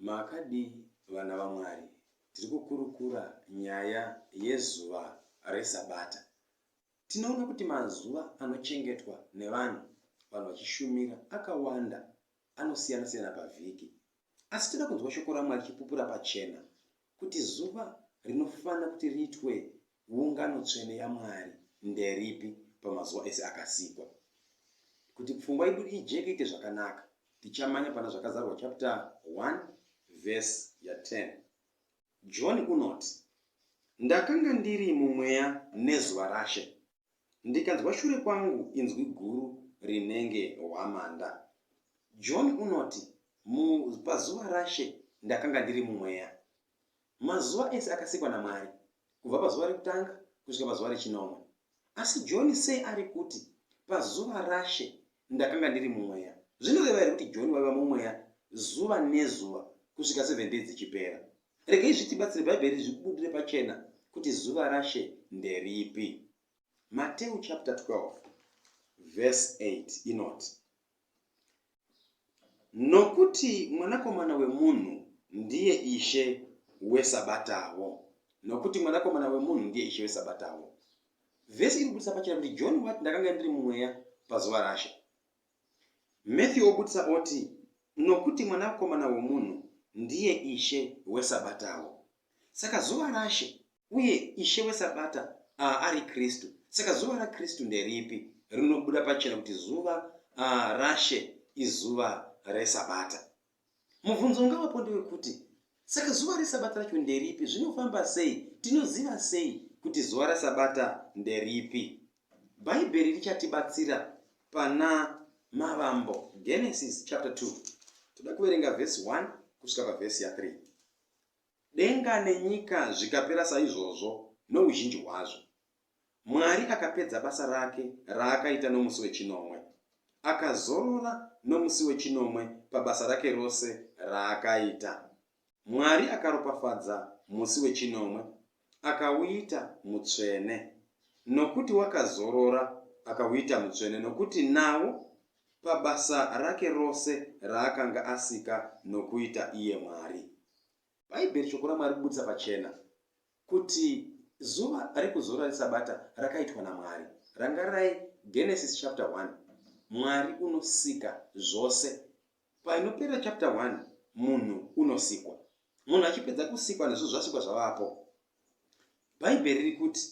Makadii vana vaMwari? Tiri kukurukura nyaya yezuva reSabata. Tinoona kuti mazuva anochengetwa nevanhu vanhu vachishumira akawanda anosiyana-siyana pavhiki. Asi toda kunzwa Shoko raMwari richipupura pachena kuti zuva rinofanira kuti riitwe ungano tsvene yaMwari nderipi pamazuva ese akasikwa. Kuti pfungwa yedu ijeke iite zvakanaka, tichamanya pana Zvakazarwa chapter 1 verse ya 10. John unoti, Ndakanga ndiri mumweya nezuva raShe, ndikanzwa shure kwangu inzwi guru rinenge hwamanda. John unoti, Mu, pazuva raShe ndakanga ndiri mumweya. Mazuva ese akasikwa naMwari, kubva pazuva rekutanga kusvika pazuva rechinomwe. Asi John sei ari kuti, Pazuva raShe Ndakanga ndiri mumweya. Zvinoreva here kuti John waiva mumweya zuva nezuva kusvika seven days dzichipera? Regei zvitibatsire Bhaibheri zvibudire pachena kuti zuva raShe nderipi. Mateu chapter 12 verse 8 inoti nokuti mwanakomana wemunhu ndiye ishe wesabatawo nokuti mwanakomana wemunhu ndiye ishe wesabatawo Vhesi iri kubudisa pachena kuti John wati ndakanga ndiri mumweya pazuva rashe. Matthew obudisa oti nokuti mwanakomana womunhu ndiye ishe wesabatawo. Saka zuva rashe uye ishe wesabata uh, ari Kristu. Saka zuva raKristu nderipi? Rinobuda pachena kuti zuva uh, rashe izuva resabata. Mubvunzo ungavapo ndewekuti, Saka zuva reSabata racho nderipi? Zvinofamba sei? Tinoziva sei kuti zuva reSabata nderipi? Bhaibheri richatibatsira pana Mavambo, Genesis chapter 2. Toda kuverenga vhesi 1 kusvika pavhesi ya 3. Denga nenyika zvikapera saizvozvo nouzhinji hwazvo, Mwari akapedza basa rake raakaita nomusi wechinomwe. Akazorora nomusi wechinomwe pabasa rake rose raakaita. Mwari akaropafadza musi wechinomwe akauita mutsvene nokuti wakazorora akauita mutsvene nokuti nawo pabasa rake rose raakanga asika nokuita iye Mwari. Bhaibheri shoko raMwari kubudisa pachena Kuti zuva rekuzorora reSabata rakaitwa naMwari. Rangarirai Genesis chapter 1 Mwari unosika zvose. Painopera chapter 1 munhu unosikwa. Munhu achipedza kusikwa nezvo zvasikwa zvavapo. Bhaibheri riri kuti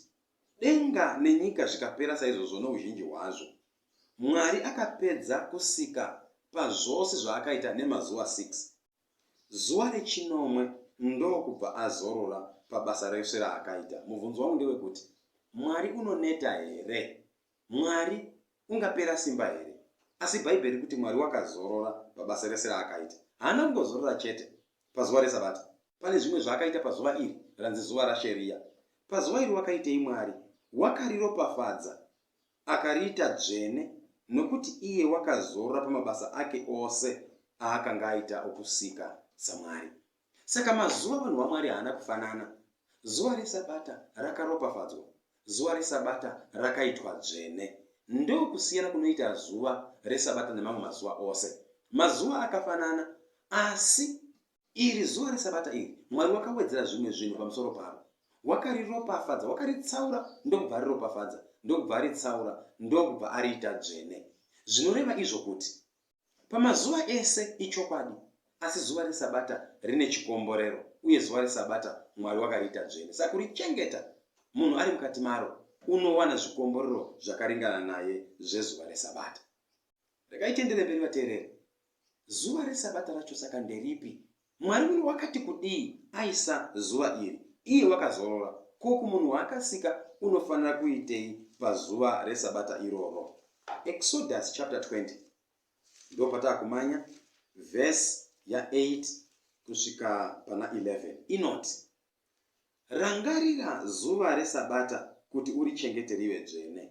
denga nenyika zvikapera saizvozvo nouzhinji hwazvo. Mwari akapedza kusika pazvose zvaakaita nemazuva 6. Zuva rechinomwe ndokubva azorora pabasa rese raakaita. Mubvunzo wangu ndewekuti Mwari unoneta here? Mwari ungapera simba here? Asi Bhaibheri kuti Mwari wakazorora pabasa rese raakaita. Haana kungozorora chete pazuva reSabata. Pane zvimwe zvaakaita pazuva iri ranzi zuva raSheria. Pazuva iri wakaitei Mwari? Wakariropafadza Akariita dzvene, nokuti iye wakazorora pamabasa ake ose aakanga aita okusika saMwari. Saka mazuva avanhu vaMwari haana kufanana. Zuva reSabata rakaropafadzwa, zuva reSabata rakaitwa dzvene. Ndokusiyana kunoita zuva reSabata nemamwe mazuva ose. Mazuva akafanana, asi Iri zuva reSabata iri, Mwari wakawedzera zvimwe zvinhu pamusoro paro. Wakariropafadza, wakaritsaura, ndokubva ariropafadza, ndokubva aritsaura, ndokubva ariita dzvene. Zvinoreva izvo kuti, Pamazuva ese, ichokwadi, asi zuva reSabata rine chikomborero, uye zuva reSabata Mwari wakariita dzvene. Saka kurichengeta, munhu ari mukati maro unowana zvikomborero zvakaringana naye zvezuva reSabata. Regai tienderere mberi vateereri. Zuva reSabata racho saka nderipi? Mwari uyu wakati kudii aisa zuva iri? Iye wakazorora. Ko kumunhu waakasika unofanira kuitei pazuva reSabata iroro? Exodus chapter 20. Ndipo pataakumanya verse ya 8 kusvika pana 11. Inoti. Rangarira zuva reSabata kuti urichengete rive dzvene.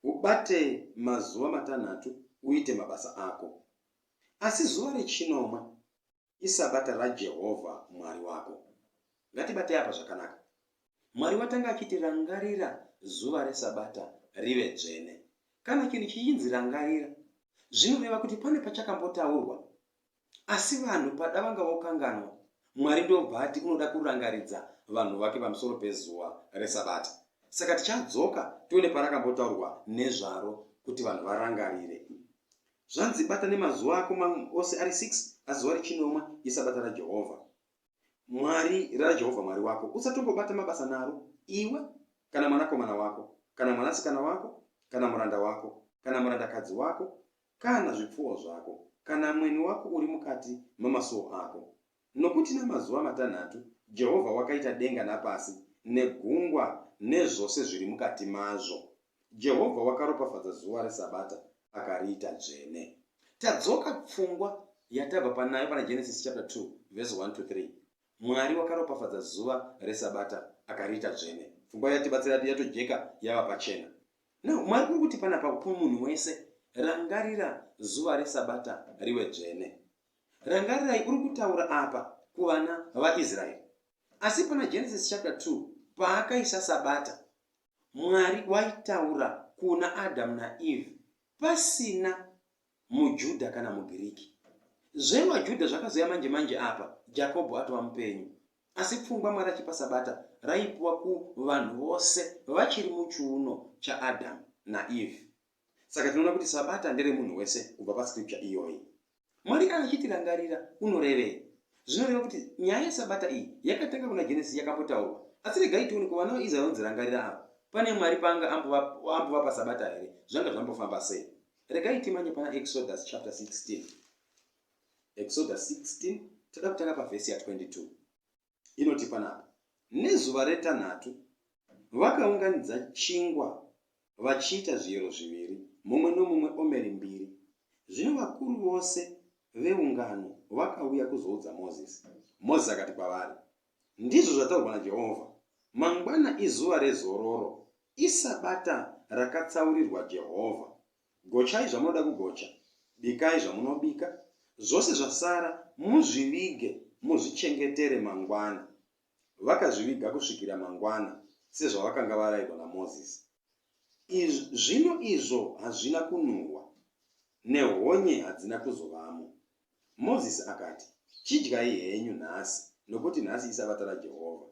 Ubate mazuva matanhatu uite mabasa ako. Asi zuva rechinomwe iSabata raJehovha Mwari wako. Ngatibatei apa zvakanaka. Mwari watanga achiti rangarira zuva reSabata rive dzvene. Kana chinhu chichinzi rangarira, zvinoreva kuti pane pachakambotaurwa asi vanhu pada vanga vokanganwa mwari ndobva ati unoda kurangaridza vanhu vake pamusoro pezuva resabata saka tichadzoka tione parakambotaurwa nezvaro kuti vanhu varangarire zvanzi bata nemazuva ako ose ari 6 asi zuva rechinomwe isabata rajehovha mwari rajehovha mwari wako usatongobata mabasa naro iwe kana mwanakomana wako kana mwanasikana wako kana muranda wako kana murandakadzi wako kana zvipfuwo zvako, kana mweni wako uri mukati mamasuo ako. Nokuti namazuva matanhatu Jehovha wakaita denga napasi, negungwa, nezvose zviri mukati mazvo. Jehovha wakaropafadza zuva reSabata akariita dzvene. Tadzoka pfungwa yatabva panayo pana Genesis chapter 2 verse 1 to 3. Mwari wakaropafadza zuva reSabata akariita dzvene. Pfungwa yatibatsira yatojeka yava pachena. Now Mwari kuri kuti panapa kumunhu wese rangarira zuva resabata riwe dzvene. Rangarirai uri kutaura apa kuvana vaIsraeri. Asi pana Genesis chapter 2 paakaisa sabata Mwari waitaura kuna Adam naEve pasina muJudha kana muGiriki. ZvevaJudha zvakazouya manje manje apa Jakobho atova mupenyu. Asi pfungwa Mwari achipa Sabata raipiwa kuvanhu vose vachiri muchiuno chaAdhamu naEvhi. Saka tinoona kuti Sabata nderemunhu wese kubva paScripture iyoyi. Mwari kana achitirangarira unorevei? Zvinoreva kuti nyaya yeSabata iyi yakatanga kuna Genesisi yakambotaurwa. Asi regai tione kuvana vaIsraeri vanonzirangarira ava pane Mwari paanga ambovapa Sabata here, zvanga zvambofamba sei? Regai timanye pana Exodus chapter 16. Exodus 16 toda kutanga pavhesi ya22 inoti panapa, nezuva retanhatu vakaunganidza chingwa vachiita zviyero zviviri, mumwe nomumwe omeri mbiri. Zvino vakuru vose veungano vakauya kuzoudza Mozisi. Mozisi akati kwavari, Ndizvo zvataurwa naJehovha, Mangwana izuva rezororo, isabata rakatsaurirwa Jehovha. Gochai zvamunoda kugocha, bikai zvamunobika, zvose zvasara muzvivige muzvichengetere mangwana. Vakazviviga kusvikira mangwana, sezvavakanga varayirwa naMozisi. Iz, zvino izvo hazvina kunhuhwa, nehonye hadzina kuzovamo. Mozisi akati, Chidyai henyu nhasi, nokuti nhasi iSabata raJehovha.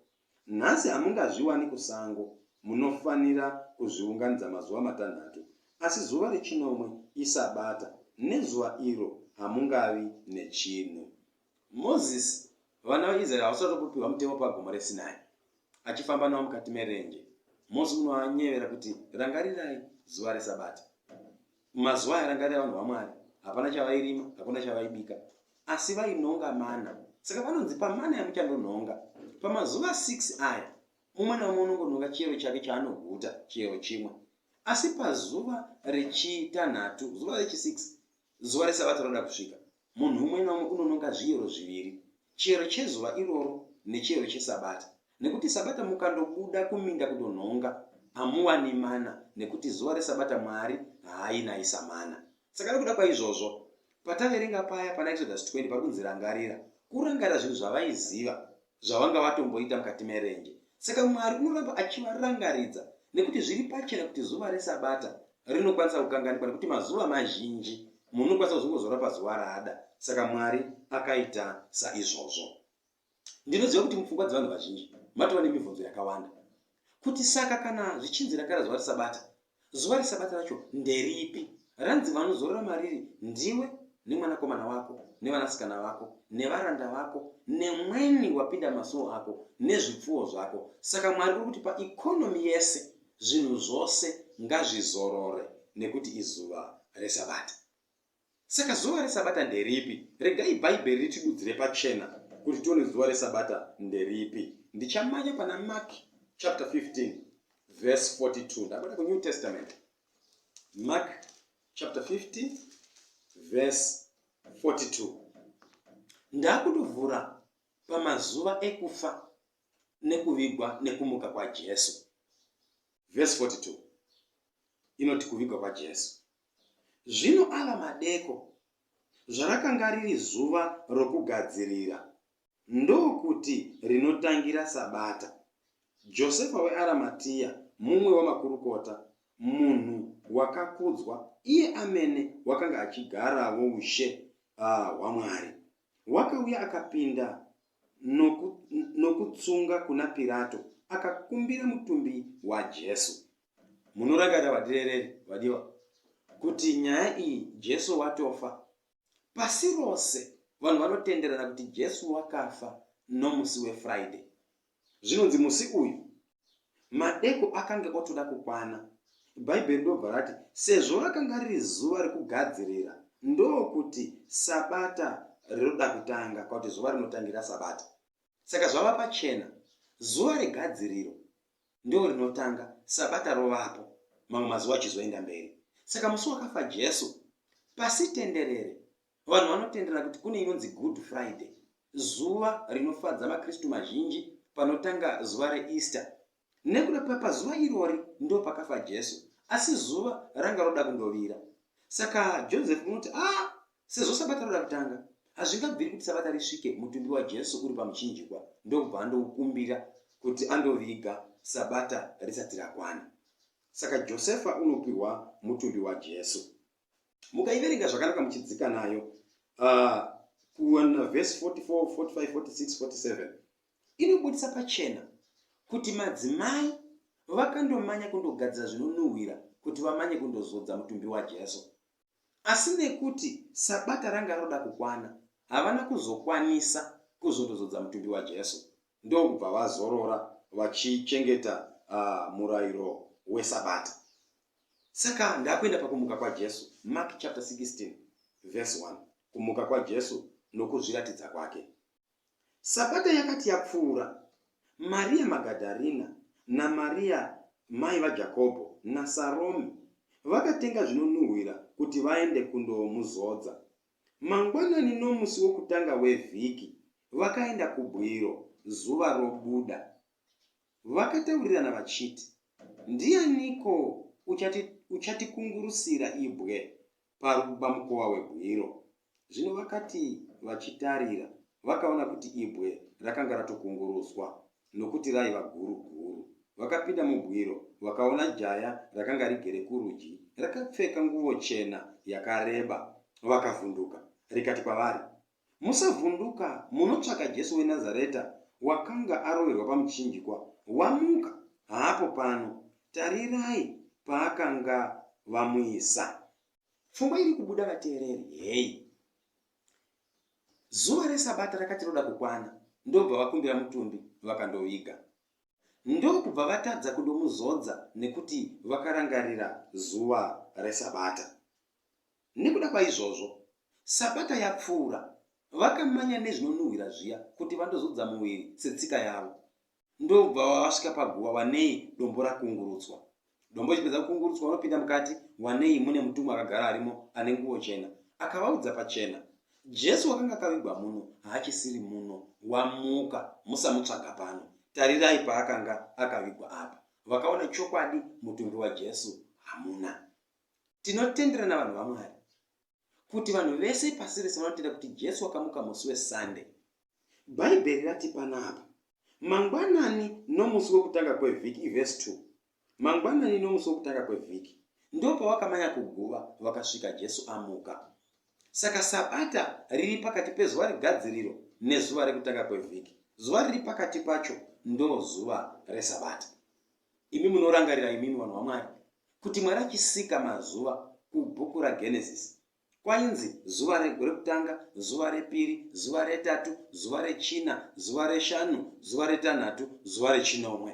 Nhasi hamungazviwani kusango, munofanira kuzviunganidza mazuva matanhatu, asi zuva rechinomwe iSabata, nezuva iro hamungavi nechinhu. Mozisi, vana vaIsraeri havasati vapiwa mutemo paGomo reSinai, achifamba navo mukati merenje. Mosi unovanyevera kuti, Rangarirai zuva reSabata. Mazuva aya rangarira vanhu vaMwari, hapana chavairima, hakuna chavaibika, asi vainhonga mana. Saka vanonzi pamana yamuchandonhonga, pamazuva 6 aya, mumwe naumwe unongonhonga chiyero chake chaanoguta, chiyero chimwe. Asi pazuva rechitanhatu, zuva rechi6, zuva reSabata roda kusvika, Munhu umwe naumwe unononga zviyero zviviri, chiyero chezuva iroro nechiyero chesabata, nekuti sabata mukandobuda kuminda kundonhonga, hamuwani mana, nekuti zuva resabata Mwari haainayisa mana. Saka nekuda kwaizvozvo, pataverenga paya panaExodus 20 pari kunzi rangarira, kurangarira zvinhu zvavaiziva, zvavanga vatomboita mukati merenje. Saka Mwari unoramba achivarangaridza nekuti zviri pachena kuti zuva reSabata rinokwanisa kukanganikwa nekuti mazuva mazhinji munhu unokwanisa kuzongozora pazuva raada. Saka Mwari akaita saizvozvo. Ndinoziva kuti mupfungwa dzevanhu vazhinji matova nemibvunzo yakawanda kuti saka kana zvichinzi rakara zuva reSabata Zuva reSabata racho nderipi? Ranzi vanozorora mariri ndiwe nemwanakomana wako nevanasikana vako nevaranda vako nemweni wapinda masuwo ako nezvipfuwo zvako. Saka Mwari uri kuti paikonomi yese zvinhu zvose ngazvizorore nekuti izuva reSabata. Saka zuva reSabata nderipi? Regai Bhaibheri ritidudzire pachena kuti tione zuva reSabata nderipi. Ndichamanya pana Mark chapter 15 verse 42. Ndakuenda kuNew Testament. Mark chapter 15 verse 42. Ndakundovhura pamazuva ekufa nekuvigwa nekumuka kwaJesu. Verse 42 inoti kuvigwa kwaJesu. Zvino ava madeko, zvarakanga riri zuva rokugadzirira, ndokuti rinotangira sabata, Josefa weAramatia, mumwe wamakurukota, munhu wakakudzwa, iye amene wakanga achigaravo ushe hwaMwari, wakauya akapinda nokutsunga kuna Pirato, akakumbira mutumbi waJesu. munorangarira vadirereri vadiwa kuti nyaya iyi jesu watofa pasi rose vanhu vanotenderana kuti jesu wakafa nomusi wefriday zvinonzi musi uyu madeko akange otoda kukwana bhaibheri ndobva rati sezvo rakanga riri zuva rekugadzirira ndokuti sabata rinoda kutanga kwakuti zuva rinotangira sabata saka zvava pachena zuva regadziriro ndiro rinotanga, Sabata rovapo, mamwe mazuva achizoenda mberi. Saka musi wakafa Jesu, pasi tenderere, vanhu vanotenderana kuti kune inonzi Good Friday, zuva rinofadza maKristu mazhinji panotanga zuva reEaster. Nekuda papazuva irori ndo pakafa Jesu, asi zuva ranga roda kundovira. Saka Joseph unoti, ah, Sezvo Sabata rava kutanga, hazvingabviri kuti Sabata risvike mutumbi waJesu uri pamuchinjikwa ndokubva andoukumbira kuti andoviga Sabata risati rakwana. Saka Josefa unopihwa mutumbi waJesu. Mukaiverenga zvakanaka muchidzika nayo uh, kuwana vhesi 44, 45, 46, 47 inobudisa pachena kuti madzimai vakandomanya kundogadzira zvinonhuhwira kuti vamanye kundozodza mutumbi waJesu. Asi nekuti Sabata ranga roda kukwana, havana kuzokwanisa kuzondozodza mutumbi waJesu ndokubva vazorora vachichengeta murairo weSabata. Saka ndakuenda pakumuka kwaJesu, Mark chapter 16 verse 1, kumuka kwaJesu nokuzviratidza kwake. Sabata yakati yapfuura, Mariya Magadharina naMariya mai vaJakobho naSarome vakatenga zvinonhuhwira kuti vaende kundomuzodza. Mangwanani nomusi wokutanga wevhiki, vakaenda kubwiro zuva robuda. Vakataurirana vachiti, Ndianiko uchati, uchatikungurusira ibwe pamukova webwiro. Zvino vakati vachitarira, vakaona kuti ibwe rakanga ratokunguruswa, nokuti raiva guru guru. Vakapinda mubwiro, vakaona jaya rakanga rigere kurudyi, rakapfeka nguvo chena yakareba. Vakavhunduka, rikati kwavari, Musavhunduka, munotsvaka Jesu weNazareta wakanga aroverwa pamuchinjikwa. Wamuka! Haapo pano. Tarirai paakanga vamuisa. Pfungwa iri kubuda vateereri heyi. Zuva reSabata rakati roda kukwana, ndobva vakumbira mutumbi vakandoviga. Ndokubva vatadza kundomuzodza nekuti vakarangarira zuva reSabata. Nekuda kwaizvozvo, Sabata yapfuura, vakamanya nezvinonhuhwira zviya kuti vandozodza muviri setsika yavo. Ndobva vasvika paguva wanei dombo rakungurutswa. Dombo richipedza kukungurutswa, vanopinda mukati wanei mune mutumwa akagara arimo ane nguvo chena. Akavaudza pachena, Jesu wakanga akavigwa muno haachisiri muno, wamuka, musamutsvaga pano. Tarirai paakanga akavigwa apa. Vakaona chokwadi mutumbi waJesu hamuna. Tinotendera navanhu vaMwari kuti vanhu vese pasi rese vanotenda kuti Jesu wakamuka musi weSunday. Bhaibheri rati panapa, Mangwanani nomusi wokutanga kwevhiki, ivhesi 2. Mangwanani nomusi wokutanga kwevhiki, ndo pawakamanya kuguva vakasvika Jesu amuka. Saka Sabata riri pakati pezuva regadziriro nezuva rekutanga kwevhiki. Zuva riri pakati pacho ndo zuva reSabata. Imi munorangarira imimi vanhu vaMwari kuti Mwari achisika mazuva kubhuku raGenesis kwainzi zuva rekutanga, zuva repiri, zuva retatu, zuva rechina, zuva reshanu, zuva retanhatu, zuva rechinomwe.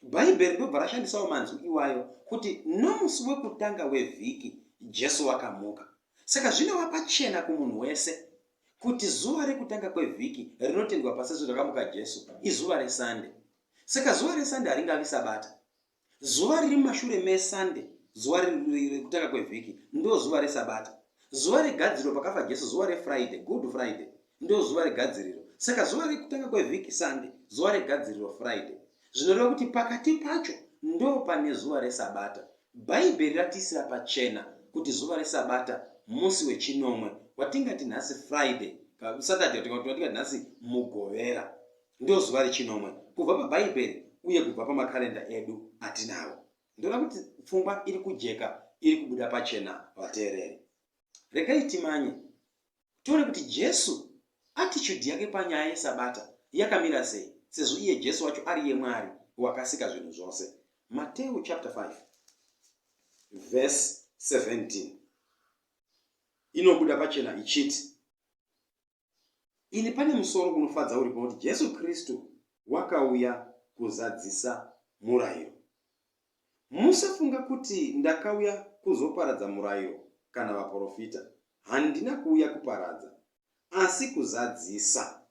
Bhaibheri ndobva rashandisawo manzwi iwayo kuti nomusi wekutanga wevhiki Jesu wakamuka. Saka zvinova pachena kumunhu wese kuti zuva rekutanga kwevhiki rinotendwa pasi zuva rakamuka Jesu izuva reSande. Saka zuva reSunday haringavi Sabata. Zuva riri mumashure meSunday, zuva rekutanga kwevhiki, ndozuva reSabata. Zuva regadziriro pakafa Jesu, zuva reFriday, Good Friday, ndozuva regadziriro. Saka zuva rekutanga kwevhiki Sunday, zuva regadziriro Friday. Zvinoreva kuti pakati pacho ndo pane zuva reSabata. Bhaibheri ratiisira pachena kuti zuva reSabata musi wechinomwe watingati nhasi Friday, Saturday watingati nhasi Mugovera. ndozuva rechinomwe kubva pabhaibheri uye kubva pamakarenda edu atinawo ndoona kuti pfungwa iri kujeka iri kubuda pachena vateereri regai timanye tione kuti jesu attitude yake panyaya yesabata yakamira sei sezvo iye jesu wacho ari yemwari wakasika zvinhu zvose mateu chapter 5 verse 17 inobuda pachena ichiti Ini pane musoro unofadza uripo kuti Jesu Kristu wakauya kuzadzisa murairo. Musafunga kuti ndakauya kuzoparadza murairo kana vaporofita. Handina kuuya kuparadza, asi kuzadzisa.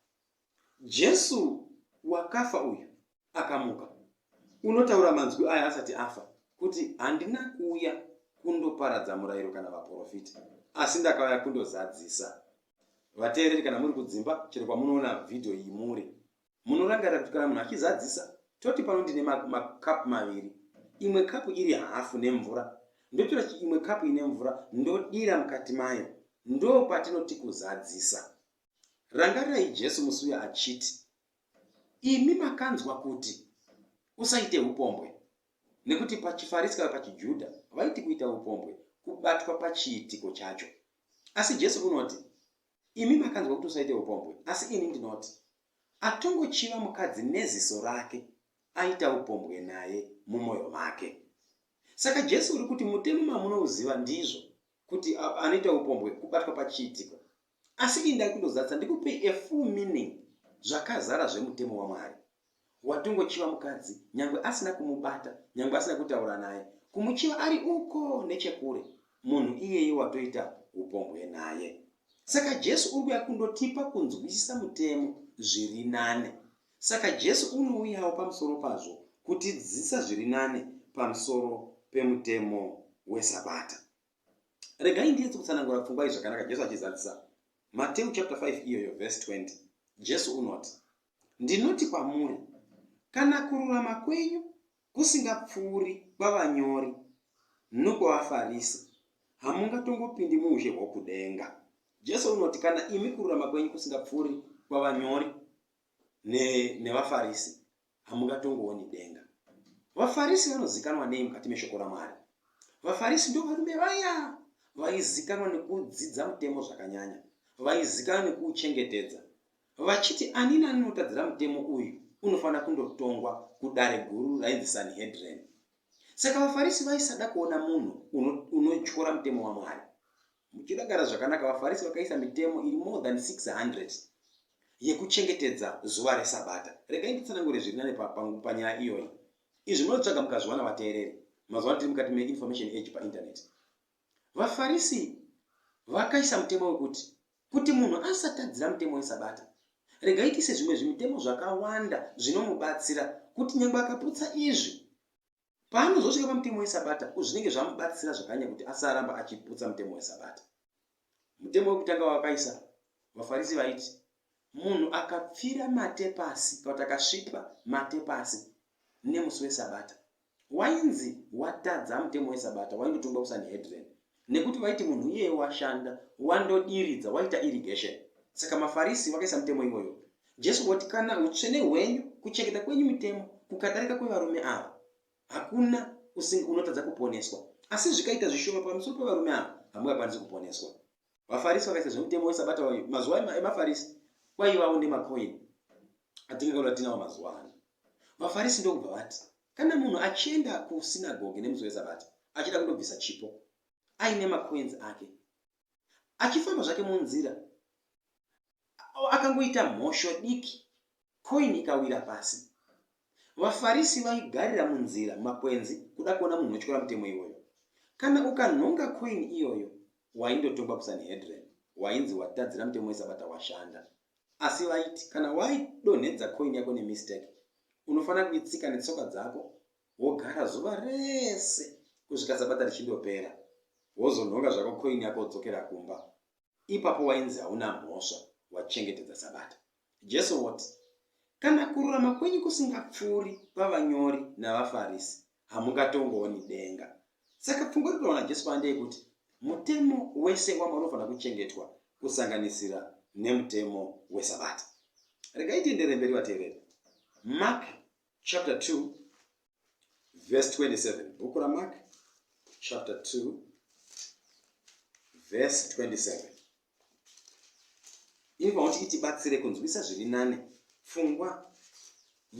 Jesu wakafa uyu akamuka unotaura manzwi aya asati afa kuti handina kuuya kundoparadza murayiro kana vaprofiti asi ndakauya kundozadzisa vateereri kana muri kudzimba chero kwamunoona vhidhiyo iyi muri munorangarira kuti kana munhu achizadzisa toti pano ndine makapu maviri imwe kapu iri hafu nemvura ndotora imwe kapu ine mvura ndodira mukati mayo ndo patinoti kuzadzisa rangarirai jesu musi uya achiti Imi makanzwa kuti, Usaite upombwe, nekuti pachiFarisi kana pachiJuda vaiti kuita upombwe kubatwa pachiitiko chacho. Asi Jesu unoti, Imi makanzwa kuti usaite upombwe, asi ini ndinoti, atongochiva mukadzi neziso rake aita upombwe naye mumwoyo make. Saka Jesu uri kuti mutemo mamunouziva ndizvo, kuti anoita upombwe kubatwa pachiitiko. asi indai kundozadzisa ndikupei a full meaning zvakazara zvemutemo wamwari watongochiva mukadzi nyangwe asina kumubata nyangwe asina kutaura naye kumuchiva ari uko nechekure munhu iyeye watoita upombwe naye saka jesu uri kuya kundotipa kunzwisisa mutemo zviri nane saka jesu unouyawo pamusoro pazvo kutidzidzisa zviri nane pamusoro pemutemo wesabata regai ndiyetse kutsanangura pfungwa iyi zvakanaka jesu achizadzisa mateu chapter 5 iyoyo verse 20 jesu unoti ndinoti kwamuri kana kururama kwenyu kusingapfuuri kwavanyori nokwavafarisi hamungatongopindi muushe hwokudenga jesu unoti kana imi kururama kwenyu kusingapfuuri kwavanyori nevafarisi ne hamungatongooni denga. VaFarisi vanozikanwa nei mukati meshoko raMwari? VaFarisi ndovarume vaya vaizikanwa nekudzidza mutemo zvakanyanya, vaizikanwa nekuuchengetedza, vachiti ani nani anotadzira mutemo uyu unofanira kundotongwa kudare guru rainzi Sanhedrin. Saka vaFarisi vaisada kuona munhu unotyora mutemo waMwari. Muchidagara zvakanaka, vaFarisi vakaisa mitemo iri more than 600 yekuchengetedza zuva reSabata. Regai nditsanangure zviri nane panyaya iyoyi. Izvi munotsvaga mukazviwana vateereri. Mazuva tiri mukati meinformation age painternet. VaFarisi vakaisa mutemo wekuti kuti munhu asatadzira mutemo weSabata, regai tiise zvimwe zvimitemo zvakawanda zvinomubatsira kuti nyangwe akaputsa izvi paanozosvika pamutemo wesabata zvinenge zvamubatsira zvakanya kuti asaramba achiputsa mutemo wesabata mutemo wekutanga wakaisa vafarisi vaiti munhu akapfira mate pasi kana kuti akasvipa mate pasi nemusi wesabata wainzi watadza mutemo wesabata waingotongwa kusanhedren Nekuti vaiti munhu iyeye washanda, wandodiridza, waita irrigation. Saka maFarisi vakaisa mutemo iwoyo. Jesu woti kana utsvene hwenyu, kuchengeta kwenyu mitemo, kukadarika kwevarume ava, hakuna usinga unotadza kuponeswa. Asi zvikaita zvishoma pamusoro pevarume ava, hamungakwanisi kuponeswa. VaFarisi vakaisa zvemutemo wesabata wayo. Mazuva emaFarisi kwaivawo nemakoini atingaona tinawo mazuva ano. VaFarisi ndokubva vati Kana munhu achienda kusinagogi nemusi weSabata achida kundobvisa chipo aine makoinzi ake, achifamba zvake munzira akangoita mhosho diki, koini ikawira pasi. VaFarisi vaigarira munzira makwenzi kuda kuona munhu wetyora mutemo iwoyo. Kana ukanhonga koini iyoyo, waindotongwa kuSanhedrin, wainzi watadzira mutemo weSabata washanda. asi vaiti kana waidonhedza coin yako nemistake unofanira kuitsika netsoka dzako wogara zuva rese kusvika sabata richindopera wozonhonga zvako coin yako wodzokera kumba ipapo wainzi hauna mhosva wachengetedza sabata jesu woti kana kururama kwenyu kusingapfuuri pavanyori navafarisi hamungatongooni denga. Saka pfungwa iri kutaura naJesu pano ndeyekuti mutemo wese wamwari unofanira kuchengetwa kusanganisira nemutemo wesabata. Regai tiendere mberi vateereri. Mark chapter 2 verse 27. Bhuku raMark chapter 2 verse 27. Ini paunoti itibatsire kunzwisa zviri nane pfungwa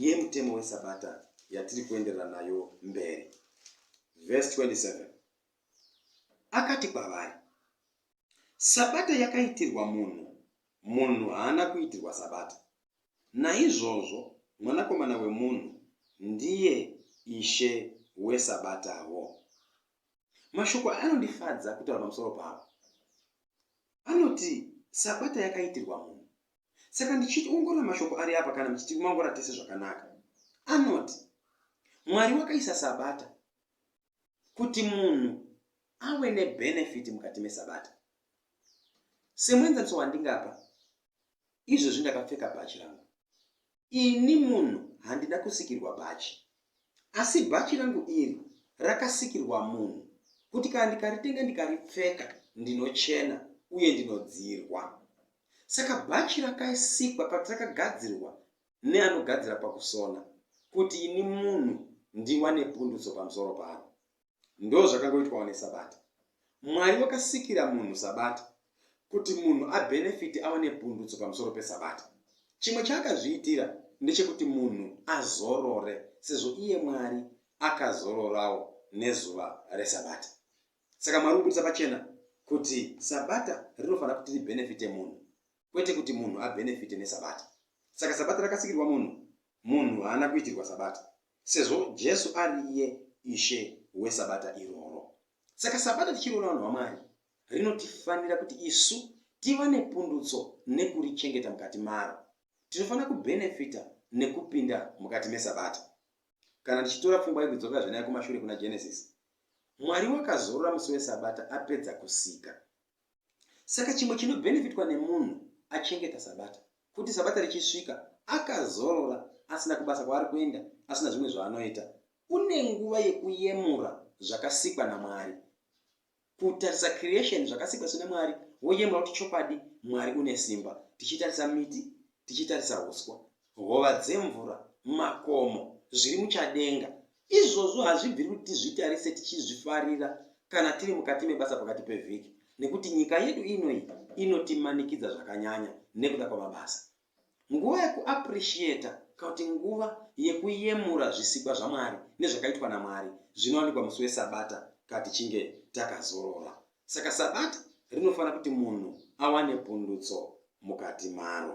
yemutemo wesabata yatiri kuenderera nayo mberi. Vhesi 27 akati kwavari, Sabata yakaitirwa munhu, munhu haana kuitirwa sabata. Naizvozvo mwanakomana wemunhu ndiye ishe wesabatawo. Mashoko aya anondifadza kutaura pamusoro pavo. Anoti sabata yakaitirwa munhu. Saka ndichiongorora mashoko ari apa kana muchitiongorora tese zvakanaka. Anoti Mwari wakaisa sabata kuti munhu ave nebenefiti mukati mesabata. Semuenzaniso wandingapa, izvozvi ndakapfeka bhachi rangu. Ini munhu handina kusikirwa bhachi, asi bhachi rangu iri rakasikirwa munhu kuti kana ndikaritenga ndikaripfeka ndinochena uye ndinodzirwa. Saka bhachi rakaisikwa pati rakagadzirwa neanogadzira pakusona kuti ini munhu ndiwane pundutso pamusoro paro. Ndozvakangoitwawo nesabata. Mwari wakasikira munhu sabata kuti munhu abenefiti ava nepundutso pamusoro pesabata. Chimwe chaakazviitira ndechekuti munhu azorore sezvo iye Mwari akazororawo nezuva resabata. Saka Mwari kubudisa pachena kuti sabata rinofanira kuti ribenefite munhu kwete kuti munhu abenefite nesabata. Saka sabata rakasikirwa munhu, munhu haana kuitirwa sabata. Sezvo Jesu ari iye Ishe weSabata iroro. Saka Sabata tichiriona vanhu vaMwari rinotifanira kuti isu tiwane pundutso nekurichengeta mukati maro. Tinofanira kubenefita nekupinda mukati meSabata. Kana tichitora pfungwa yekudzokera zvenaya kumashure kuna Genesis, Mwari wakazorora musi weSabata apedza kusika. Saka chimwe chinobhenefitwa nemunhu achengeta Sabata, kuti Sabata richisvika akazorora, asina kubasa kwaari kuenda, asina zvimwe zvaanoita, une nguva yekuyemura zvakasikwa naMwari, kutarisa creation zvakasikwa sina Mwari, woyemura kuti chokwadi Mwari une simba, tichitarisa miti, tichitarisa uswa, hova dzemvura, makomo, zviri muchadenga. Izvozvo hazvibviri kuti tizvitarise tichizvifarira kana tiri mukati mebasa pakati pevhiki, nekuti nyika yedu ino iyi inotimanikidza zvakanyanya nekuda kwamabasa. Nguva yekuappreciata kana kuti nguva yekuyemura zvisikwa zvaMwari nezvakaitwa naMwari zvinowanikwa musi weSabata kana tichinge takazorora. Saka Sabata rinofanira kuti munhu awane pundutso mukati maro.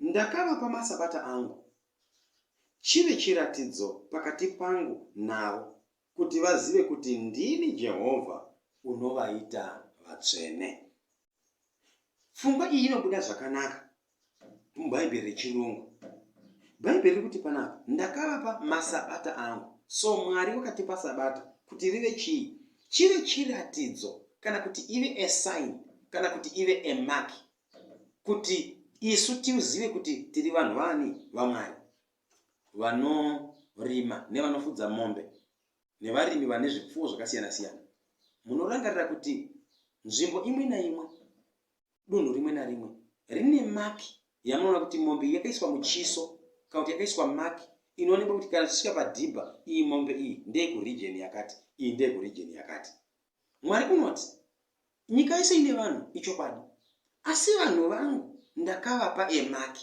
Ndakavapa masabata angu, chive chiratidzo pakati pangu navo, kuti vazive kuti ndini Jehovha unovaita vatsvene. Pfungwa iyi inobuda zvakanaka muBhaibheri reChirungu. Bhaibheri riri kuti panapa, ndakavapa masabata angu. So Mwari wakatipa sabata kuti rive chii? Chive chiratidzo kana kuti ive a sign kana kuti ive a mark kuti isu tizive kuti tiri vanhu vani vamwari vanorima nevanofudza mombe nevarimi vane zvipfuwo zvakasiyana siyana munorangarira kuti nzvimbo imwe naimwe dunhu rimwe narimwe rine maki yamunoona kuti mombe iyi yakaiswa muchiso kana kuti yakaiswa maki inoonekwa kuti kana tichisvika padhibha iyi mombe iyi ndeyekurijeni yakati iyi ndeyekurijeni yakati mwari unoti Nyika yese ine vanhu, ichokwadi. Asi vanhu vangu ndakavapa a mark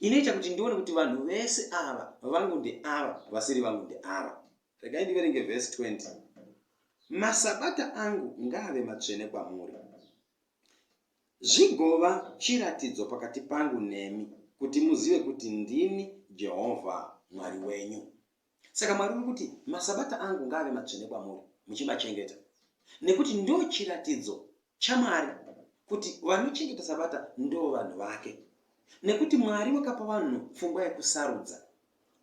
inoita kuti ndione kuti vanhu vese ava vangu ndeava, vasiri vangu ndeava. Regai ndiverenge vhesi 20. Masabata angu ngaave matsvene kwamuri, zvigova chiratidzo pakati pangu nemi, kuti muzive kuti ndini Jehovha Mwari wenyu. Saka Mwari uri kuti, Masabata angu ngaave matsvene kwamuri, muchimachengeta, nekuti ndo chiratidzo chaMwari kuti vanochengeta Sabata ndo vanhu vake. Nekuti Mwari wakapa vanhu pfungwa yekusarudza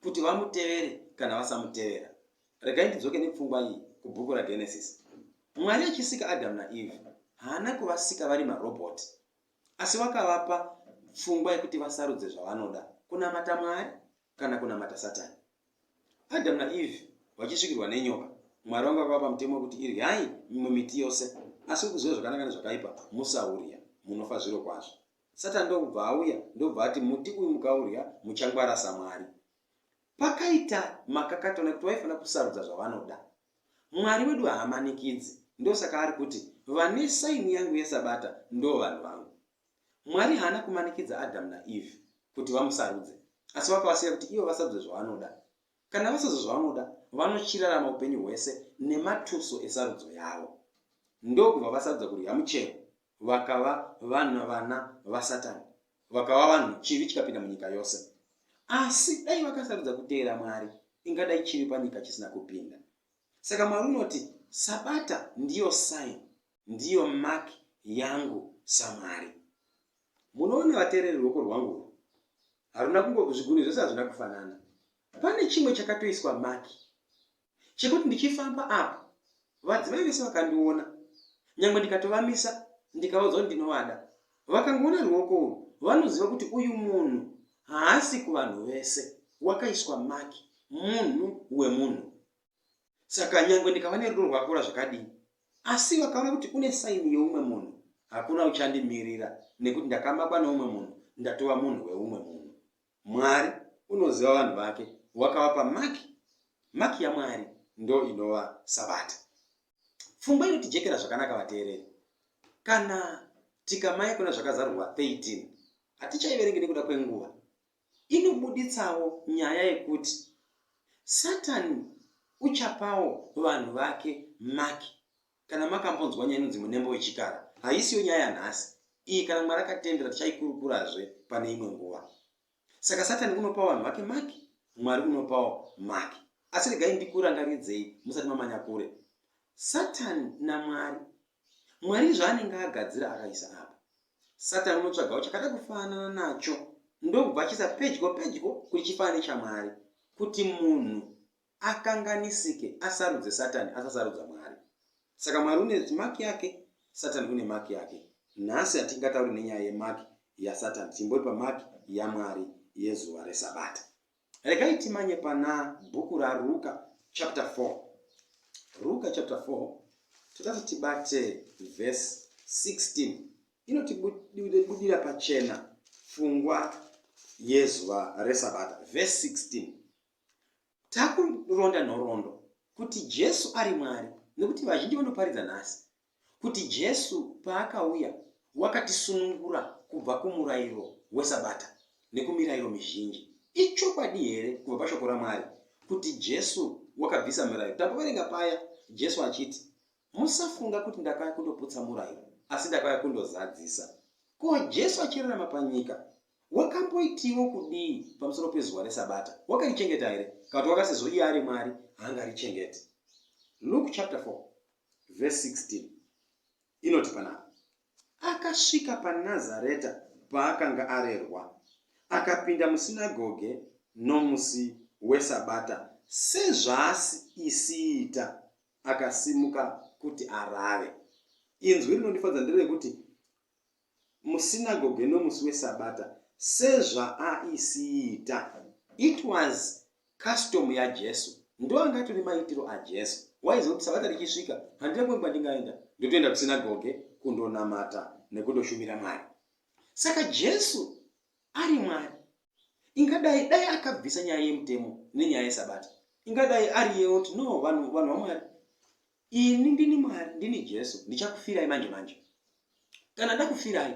kuti vamutevere kana vasamutevera. Regai ndidzoke nepfungwa iyi kubhuku raGenesis. Mwari achisika Adamu naEve haana kuvasika vari marobhoti Asi wakavapa pfungwa yekuti vasarudze zvavanoda, kunamata Mwari kana kunamata Satani. Adhamu naEvhi vachisvikirwa nenyoka, Mwari vanga vakavapa mutemo wekuti iryai mimwe miti yose, asi ukuziva zvakanaka nezvakaipa, musaurya, munofa zvirokwazvo. Satani ndokubva auya ndokubva ati muti uyu mukaurya muchangwara saMwari. Pakaita makakato nekuti vaifanira kusarudza zvavanoda. Mwari wedu haamanikidzi, ndosaka ari kuti, Vane saini yangu yeSabata ndo vanhu vangu. Mwari haana kumanikidza Adhamu naEvhi kuti vamusarudze, asi vakavasiya kuti ivo vasarudze zvavanoda. Kana vasarudza zvavanoda, vanochirarama upenyu hwese nematuso esarudzo yavo. Ndokubva vasarudza kudya muchero Vakava vanhu vana vaSatani. Vakava vanhu chivi chikapinda munyika yose. Asi dai vakasarudza kuteera Mwari, ingadai chivi panyika chisina kupinda. Saka Mwari unoti, Sabata ndiyo sign, ndiyo mark yangu saMwari. Munoona vateereri ruoko rwangu urwu? Haruna kungo zvigunwe zvese hazvina kufanana. Pane chimwe chakatoiswa mark. chekuti ndichifamba apo vadzimai vese vakandiona nyangwe ndikatovamisa ndikavaudza kuti ndinovada vakangoona ruoko urwu vanoziva kuti uyu munhu haasi kuvanhu vese wakaiswa maki munhu wemunhu saka nyangwe ndikava nerudo rwakura zvakadii asi vakaona kuti une saini yeumwe munhu hakuna uchandimirira nekuti ndakamakwa neumwe munhu ndatova munhu weumwe munhu Mwari unoziva vanhu vake wakavapa maki maki yamwari ndo inova sabata pfungwa inotijekera zvakanaka vateereri kana tikamaya kuna zvakazarurwa 13 hatichaiverenge nekuda kwenguva inobuditsawo nyaya yekuti satani uchapawo vanhu vake maki Kana makambonzwa nyaya inonzi munembo wechikara, haisiyo nyaya yanhasi. Iyi kana Mwari akatendera tichaikurukurazve pane imwe nguva. Saka Satani unopa vanhu vake maki, Mwari unopawo maki. Asi regai ndikurangaridzei musati mamanya kure. Satani naMwari. Mwari zvaanenge agadzira akaisa apa. Satani unotsvagawo chakada kufanana nacho ndokubva achiisa pedyo pedyo kuti chifanane chaMwari kuti munhu akanganisike asarudze satani asasarudza mwari saka mwari une maki yake satani une maki yake nhasi hatingatauri nenyaya yemaki yasatani timbori pamaki yamwari yezuva resabata regai timanye pana bhuku raruka chapter 4 ruka chapter 4 totati tibate vhesi 16 inotibudira pachena fungwa yezuva resabata vhesi 16 Takuronda nhoroondo kuti Jesu ari Mwari nekuti vazhinji vanoparidza nhasi kuti Jesu paakauya wakatisunungura kubva kumurairo weSabata nekumirairo mizhinji. Ichokwadi here kubva pashoko raMwari kuti Jesu wakabvisa mirairo? Tamboverenga paya Jesu achiti, Musafunga kuti ndakauya kundoputsa murairo, asi ndakauya kundozadzisa. Ko Jesu achirarama panyika Wakamboitiwo kudii pamusoro pezuva reSabata? Wakarichengeta here? Kana kuti wakasezvo iye ari Mwari haangarichengeti. Luke chapter 4 verse 16 inoti panapa, Akasvika paNazareta paakanga arerwa, akapinda musinagoge nomusi weSabata sezvaasiita, akasimuka kuti arave. Inzwi rinondifadza nderekuti musinagoge nomusi weSabata sezvaaisiita. It was custom yaJesu. Ndoanga atori maitiro aJesu. Waiziva kuti Sabata richisvika handina kumwe kwandingaenda ndotoenda kusinagoge kundonamata nekundoshumira Mwari. Saka Jesu ari Mwari. ingadai dai akabvisa nyaya yemutemo nenyaya yesabata ingadai ari yeyoti no vanhu vanhu vamwari ini ndini mwari ndini jesu ndichakufirai manje manje kana ndakufirai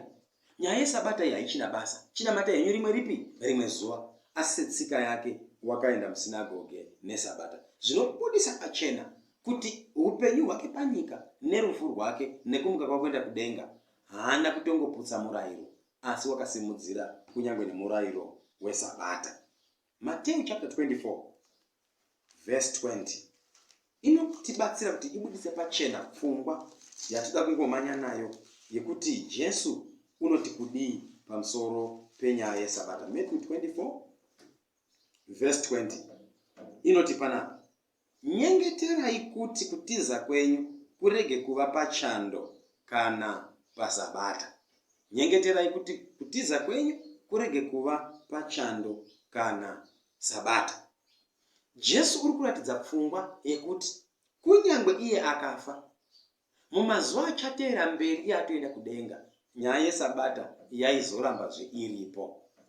nyaya yesabata iyi haichina basa chinamata henyu rimwe ripi rimwe zuva asi setsika yake wakaenda musinagoge nesabata zvinobudisa pachena kuti upenyu hwake panyika nerufu rwake nekumuka kwakuenda kudenga haana kutongoputsa murayiro asi wakasimudzira kunyange nemurairo weSabata. Mateu chapter 24 verse 20 inotibatsira kuti ibudise pachena pfungwa yatida kungomanya nayo yekuti Jesu unoti kudii pamusoro penyaya yeSabata. Matthew 24 verse 20 inoti panapa, Nyengeterai kuti kutiza kwenyu kurege kuva pachando kana paSabata. Nyengeterai kuti kutiza kwenyu kurege kuva pachando kana Sabata. Jesu uri kuratidza pfungwa yekuti kunyangwe iye akafa, Mumazuva achateera mberi yaatoenda kudenga, nyaya yeSabata yaizorambazve iripo.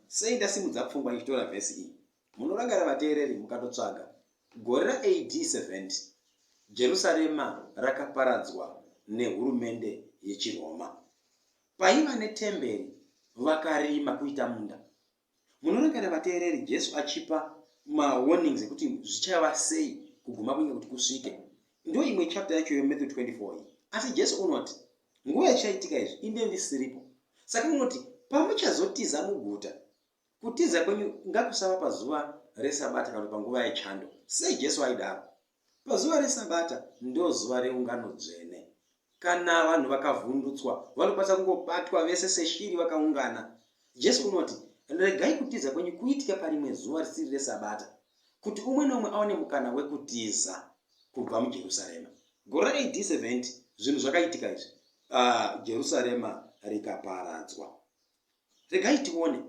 Sei ndasimudza pfungwa ndichitora vhesi iyi? Munorangarira vateereri mukatotsvaga. Gore ra AD 70, Jerusarema rakaparadzwa nehurumende yechiRoma. Paiva netemberi vakarima kuita munda. Munorangarira vateereri Jesu achipa mawarnings ekuti zvichava sei kuguma kunge kuti kusvike? Ndo imwe chapter yacho yeMatthew 24 iyi. Asi Jesu unoti, nguva ichaitika izvi inde ndisiripo. Saka unoti, pamuchazotiza muguta, kutiza kwenyu ngakusava pazuva resabata kana panguva yechando. Sei Jesu aidaro? Pazuva reSabata ndozuva reungano dzvene. Kana vanhu vakavhundutswa, vanokwanisa kungobatwa vese seshiri vakaungana. Jesu unoti, Regai kutiza kwenyu kuitike parimwe zuva risiri reSabata, kuti umwe nomwe aone mukana wekutiza kubva muJerusarema. Gore ra AD 70 zvinhu zvakaitika izvi, uh, Jerusarema rikaparadzwa. Regai tione,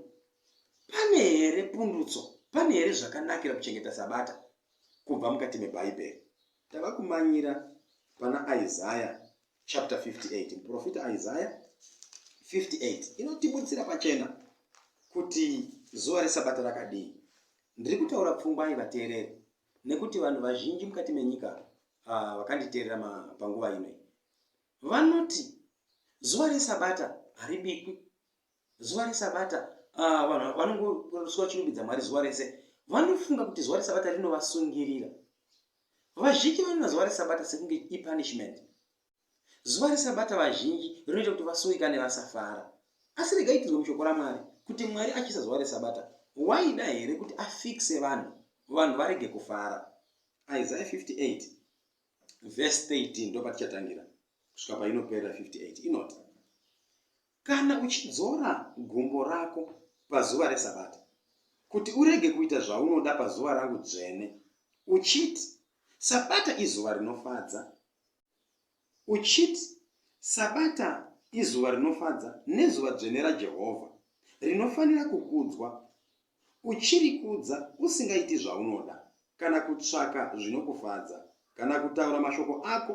pane here pundutso? Pane here zvakanakira kuchengeta Sabata? kubva mukati meBhaibheri. Tava kumanyira pana Isaya chapter 58. Muprofita Isaya 58 inotibudzira pachena kuti zuva reSabata rakadii. Ndiri kutaura pfungwa yevateereri nekuti vanhu vazhinji mukati menyika ah, vakanditeerera panguva ino vanoti zuva reSabata haribikwi zuva resabata ah, vanhu uh, vanongosuva chirumbidza mwari zuva rese vanofunga kuti zuva resabata rinovasungirira vazhinji vanoona zuva resabata sekunge ipunishment zuva resabata vazhinji rinoita kuti vasungikane vasafara asi regaitirwe mushoko ramwari kuti mwari achisa zuva resabata waida here kuti afikse vanhu vanhu varege kufara isaya 58 vhesi 13 ndopatichatangira kusvika painopera 58 inoti Kana uchidzora gumbo rako pazuva reSabata, kuti urege kuita zvaunoda pazuva rangu dzvene, uchiti, Sabata izuva rinofadza, uchiti, Sabata izuva rinofadza nezuva dzvene raJehovha, rinofanira kukudzwa, uchirikudza usingaiti zvaunoda, kana kutsvaka zvinokufadza, kana kutaura mashoko ako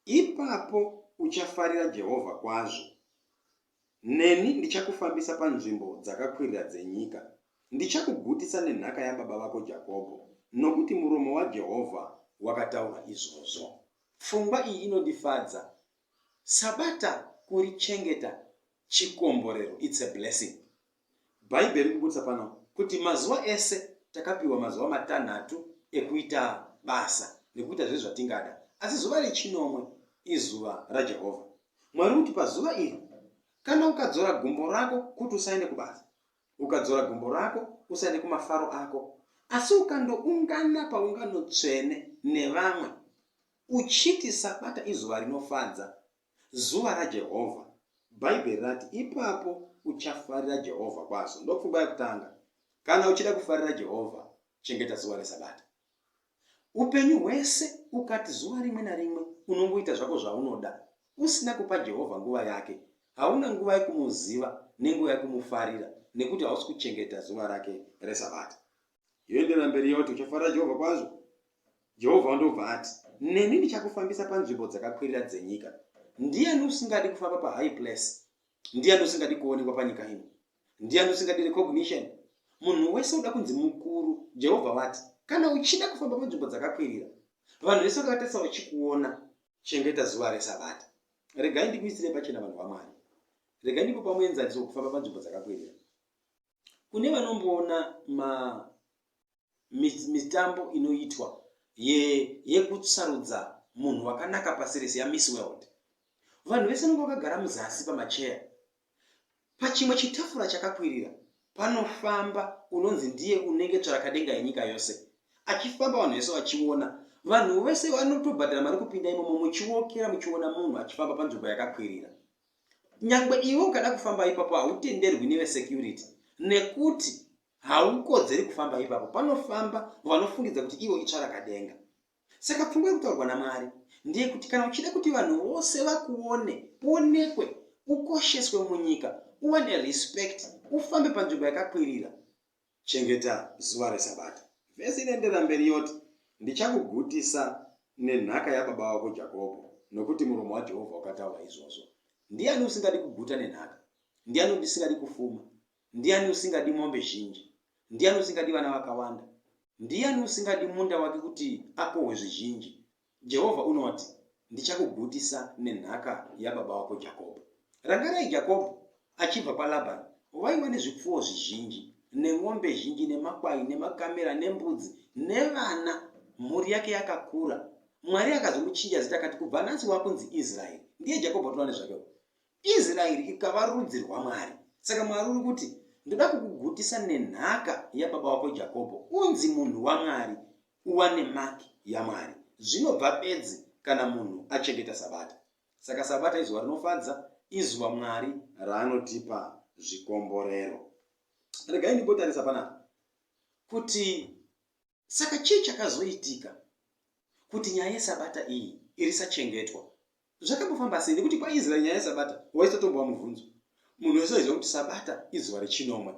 Ipapo uchafarira Jehovha kwazvo. Neni ndichakufambisa panzvimbo dzakakwirira dzenyika. Ndichakugutisa nenhaka yababa vako Jakobho, nokuti muromo waJehovha wakataura izvozvo. Pfungwa iyi inondifadza. Sabata kurichengeta chikomborero, it's a blessing. Bhaibheri riri kubudisa pano kuti mazuva ese takapiwa mazuva matanhatu ekuita basa nekuita zvese zvatingada, asi zuva rechinomwe izuva raJehovha Mwari. Kuti pazuva iri, kana ukadzora gumbo rako kuti usaende kubasa, ukadzora gumbo rako usaende kumafaro ako, asi ukandoungana paungano tsvene nevamwe uchiti Sabata izuva rinofadza, Zuva raJehovha. Bhaibheri rati, Ipapo uchafarira Jehovha kwazvo. Ndopfungwa yekutanga. Kana uchida kufarira Jehovha, chengeta zuva reSabata. Upenyu hwese ukati zuva rimwe narimwe unongoita zvako zvaunoda usina kupa Jehovha nguva yake, hauna nguva yekumuziva nenguva yekumufarira nekuti hausi kuchengeta zuva rake reSabata. yoenderera mberi yoti uchafarira jehovha kwazvo jehovha ndobva ati neni ndichakufambisa panzvimbo dzakakwirira dzenyika ndiyani usingadi kufamba pahigh place ndiyani usingadi kuonekwa panyika ino ndiyani usingadi recognition munhu wese uda kunzi mukuru jehovha vati kana uchida kufamba panzvimbo dzakakwirira vanhu vese vakatarisa vachikuona chengeta zuva resabata regai ndikuisire pachena vanhu vamwari regai ndikupa muenzaniso wekufamba panzvimbo dzakakwirira kune vanomboona ma mitambo inoitwa yekusarudza munhu wakanaka pasi rese yamiss world vanhu vese nonge vakagara muzasi pamacheya pachimwe chitafura chakakwirira panofamba unonzi ndiye unenge tsvarakadenga yenyika yose achifamba vanhu vese vachiona vanhu vese vanotobhadhara mari kupinda imomo muchiokera muchiona munhu achifamba panzvimbo yakakwirira nyangwe iwe ukada kufamba ipapo hautenderwi nevesecurity nekuti haukodzeri kufamba ipapo panofamba vanofungidza kuti ivo itsvara kadenga saka pfungwa yekutaurwa namwari ndiye kuti kana uchida kuti vanhu vose vakuone uonekwe ukosheswe munyika uwane respect ufambe panzvimbo yakakwirira Chengeta zuva reSabata. Vhesi inoenderera mberi yoti, Ndichakugutisa nenhaka yababa wako Jakobho, nokuti muromo waJehovha wakataura izvozvo. Ndiani usingadi kuguta nenhaka? Ndiani usingadi kufuma? Ndiani usingadi mombe zhinji? Ndiani usingadi vana vakawanda? Ndiani usingadi munda wake kuti akohwe zvizhinji? Jehovha unoti, Ndichakugutisa nenhaka yababa wako Jakobho. Rangarai Jakobho achibva kwaLabhani vaiva nezvipfuwo zvizhinji, nen'ombe zhinji, nemakwai, nemakamera, nembudzi, nevana. Mhuri yake yakakura. Mwari akazomuchinja zita akati, Kubva nhasi wakunzi Israeri. Ndiye Jakobho atova nezvake. Israeri ikava rudzi rwaMwari. Saka Mwari uri kuti, Ndoda kukugutisa nenhaka yababa wako Jakobho, unzi munhu waMwari, uwane maki yaMwari. Zvinobva bedzi kana munhu achengeta Sabata. Saka Sabata izuva rinofadza, izuva Mwari raanotipa zvikomborero. Regai ndimbotarisa panapa kuti Saka chii chakazoitika kuti nyaya yesabata iyi irisachengetwa? Zvakambofamba sei? Nekuti kwaIsraeri nyaya yesabata waisotombova mubvunzo. Munhu wese aiziva kuti sabata izuva rechinomwe.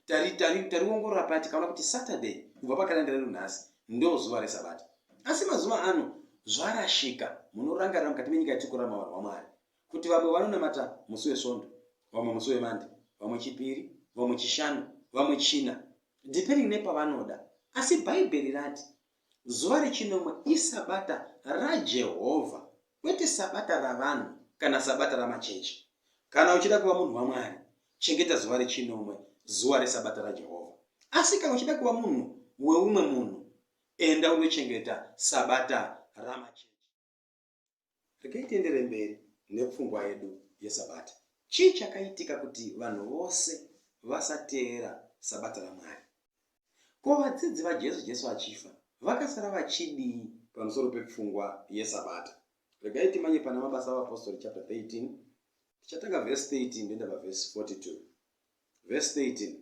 Tariongorora tari, tari tikaona kuti Saturday kubva pakaranda redu nhasi ndo zuva resabata. Asi mazuva ano zvarashika, munorangarira mukati menyika yatikurama vanhu vaMwari. kuti vamwe vanonamata musi wesvondo vamwe musi wemande vamwe chipiri vamwe chishanu vamwe china depending nepavanoda asi bhaibheri rati zuva rechinomwe isabata rajehovha kwete sabata ravanhu kana sabata ramachechi kana uchida kuva munhu wamwari chengeta zuva rechinomwe zuva resabata rajehovha asi kana uchida kuva munhu weumwe munhu enda unochengeta sabata ramachechi Regai tiendere mberi nepfungwa yedu yeSabata. Chii chakaitika kuti vanhu vose vasateera Sabata raMwari? Ko vadzidzi vaJesu Jesu achifa vakasara vachidii pamusoro pepfungwa yeSabata? Regai timanye pana Mabasa aVapostori chapter 13 tichatanga verse 13 ndoenda paverse 42. Verse 13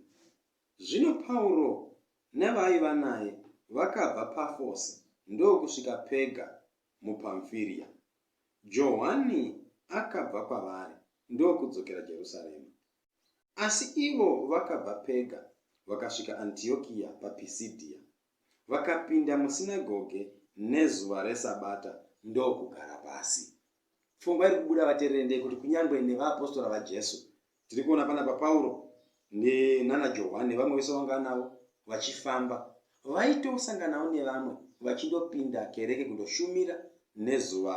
Zvino Pauro nevaiva naye vakabva Pafose ndokusvika Pega muPamfiria. Johwani akabva kwavari ndokudzokera Jerusarema. Asi ivo vakabva Pega vakasvika Antiokia paPisidhia, vakapinda musinagoge nezuva reSabata ndokugara pasi. Pfungwa iri kubuda vateereri ndeyekuti kunyange nevaapostora vaJesu Tiri kuona panapa Pauro nana Johwani nevamwe vese vanga anavo vachifamba. Vaitosanganawo nevamwe vachindopinda kereke kundoshumira nezuva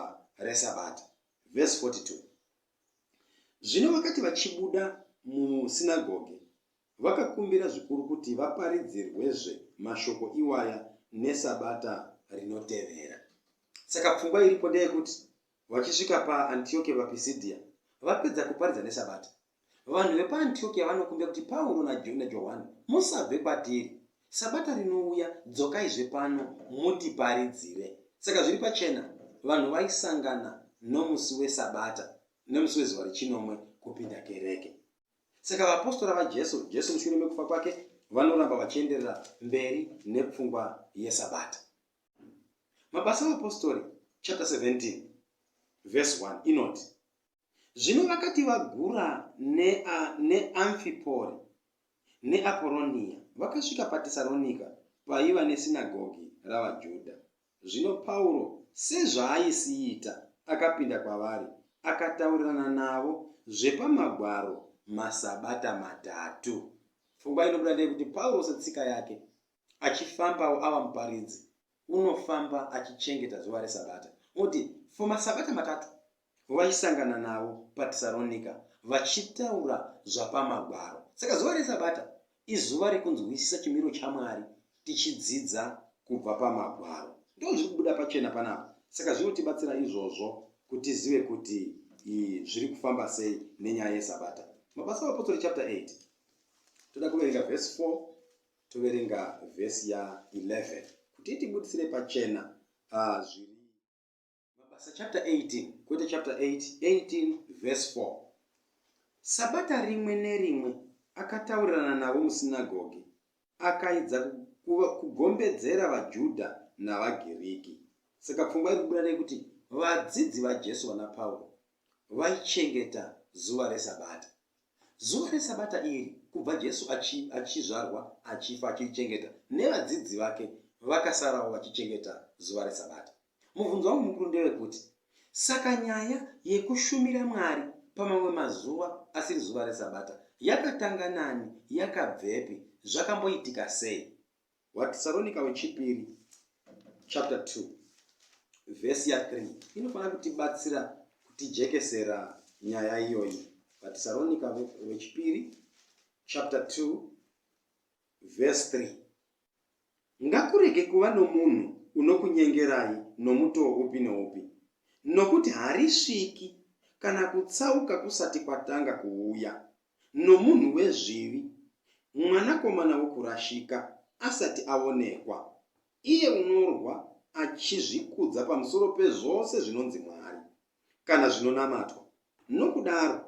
reSabata. Vhesi 42 Zvino vakati vachibuda musinagoge, vakakumbira zvikuru kuti vaparidzirwezve mashoko iwaya neSabata rinotevera. Saka pfungwa iripo ndeyekuti Vachisvika paAntiokia vaPisidia, vapedza kuparidza neSabata, vanhu vepaAntiokia vanokumbira kuti Pauro naJohwani, Musabve kwatiri! Sabata rinouya, dzokaizve pano mutiparidzire. Saka zviri pachena, vanhu vaisangana nomusi weSabata nemusi wezuva rechinomwe kupinda kereke. Saka vaapostora vaJesu, Jesu mushure mekufa kwake, vanoramba vachienderera mberi nepfungwa yeSabata. mabasa avapostori chapter 17 vhesi 1 inoti zvino vakati vagura neamfipori ne neaporonia vakasvika patesaronika paiva nesinagogi ravajuda zvino pauro sezvaaisiita akapinda kwavari akataurirana navo zvepamagwaro masabata matatu pfungwa inobuda ndeyekuti pauro setsika yake achifambawo ava muparidzi unofamba achichengeta zuva resabata oti for masabata matatu vaisangana navo patesaronika vachitaura zvapamagwaro saka zuva resabata izuva rekunzwisisa chimiro chamwari tichidzidza kubva pamagwaro ndo zviri kubuda pachena panapa saka zvinotibatsira izvozvo kuti zive kuti zviri kufamba sei nenyaya yesabata mabasa apotori chapter 8 toda kuverenga vhesi 4 Toverenga vhesi ya 11 kuti itibudisire pachena ah, zviri Mabasa chapter 18 kwete chapter 8 18 vhesi 4 Sabata rimwe nerimwe akataurirana navo musinagogi akaidza kugombedzera vaJudha navaGiriki. Saka pfungwa iri kubuda nekuti vadzidzi vaJesu vana Pauro vaichengeta zuva reSabata. Zuva reSabata iri, kubva Jesu achi, achizvarwa, achifa, achirichengeta, nevadzidzi vake vakasarawo vachichengeta zuva reSabata. Mubvunzo wangu mukuru ndewekuti, saka nyaya yekushumira Mwari pamamwe mazuva asiri zuva reSabata yakatanga nani, yakabvepi, zvakamboitika sei? Watesaronika wechipiri chapter 2 vhesi ya 3 inofanira kutibatsira kutijekesera nyaya iyoyi vatesaronika wechipiri chapter 2 vhesi 3 ngakurege kuva nomunhu unokunyengerai nomutoo upi noupi nokuti harisviki kana kutsauka kusati kwatanga kuuya nomunhu wezvivi, mwanakomana wokurashika, asati aonekwa, iye unorwa achizvikudza pamusoro pezvose zvinonzi mwari, kana zvinonamatwa, nokudaro,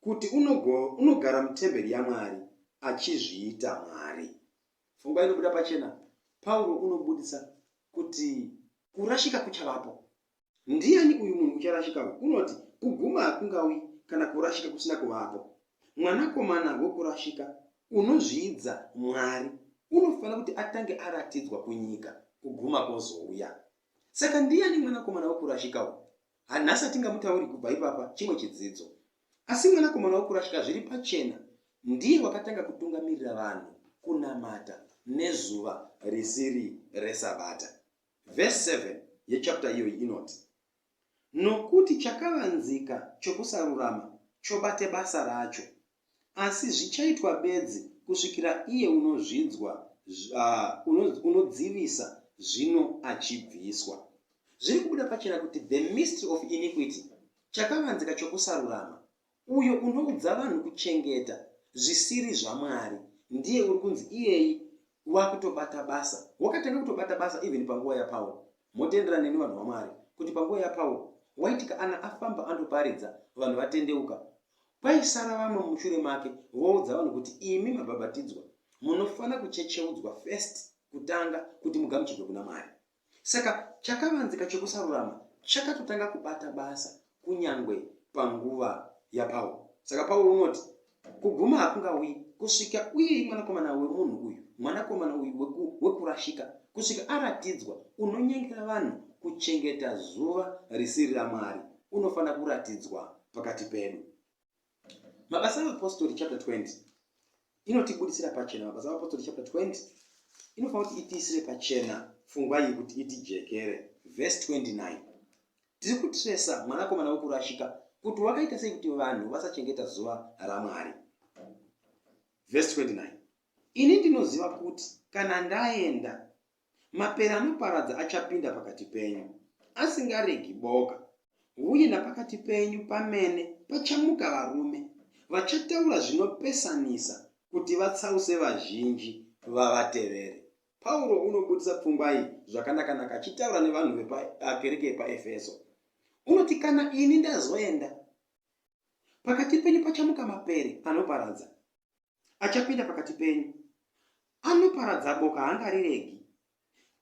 kuti unogo, unogara mutemberi yaMwari, achizviita mwari. Pfungwa inobuda pachena, Pauro unobudisa kuti kurashika kuchavapo. Ndiani uyu munhu ucharashika uyu? Kunoti kuguma hakungauyi kana kurashika kusina kuvapo. Mwanakomana wokurashika unozviidza Mwari unofanira kuti atange aratidzwa kunyika, kuguma kwozouya. Saka ndiani mwanakomana wokurashika uyu? Hanhasi hatingamutauri kubva ipapa, chimwe chidzidzo. Asi mwanakomana wokurashika zviri pachena ndiye wakatanga kutungamirira vanhu kunamata nezuva risiri reSabata. Vhesi 7 yechapita iyoyi inoti, Nokuti chakavanzika chokusarurama chobate basa racho, asi zvichaitwa bedzi kusvikira iye unozvidzwa, uh, unodzivisa zvino achibviswa. Zviri kubuda pachena kuti the mystery of iniquity, chakavanzika chokusarurama, Uyo unoudza vanhu kuchengeta zvisiri zvaMwari ndiye uri kunzi iyeyi wakutobata basa. Wakatanga kutobata basa even panguva yaPaul. Motenderana neni vanhu vaMwari kuti panguva yaPaul waiti kana afamba andoparidza vanhu vatendeuka kwaisara vamwe mumushure make voudza vanhu kuti imi mabhabhatidzwa munofanira kuchecheudzwa first kutanga kuti mugamuchirwe kuna Mwari. Saka chakavanzika chokusarurama chakatotanga kubata basa kunyange panguva yaPauro. Saka Pauro unoti, Kuguma hakungauyi kusvika uye mwanakomana wemunhu uyu, mwanakomana uyu wekurashika, kusvika aratidzwa. Unonyengera vanhu kuchengeta zuva risiri raMwari. Unofanira kuratidzwa pakati pedu. Mabasa aVapostori chapter 20 inotibudisira pachena. Mabasa aVapostori chapter 20 inofanira kuti itiisire pachena fungwa iyi kuti itijekere. Verse 29 tiri kutresa mwanakomana wekurashika kuti wakaita sei kuti vanhu vasachengeta zuva raMwari. Verse 29 ini ndinoziva kuti kana ndaenda Mapere anoparadza achapinda pakati penyu, asingaregi boka, uye napakati penyu pamene pachamuka varume vachataura zvinopesanisa kuti vatsause vazhinji vavatevere. Pauro unobudisa pfungwa iyi zvakanakanaka achitaura nevanhu vepakereke yepaEfeso. Unoti, Kana ini ndazoenda, pakati penyu pachamuka mapere anoparadza. achapinda pakati penyu anoparadza boka haangariregi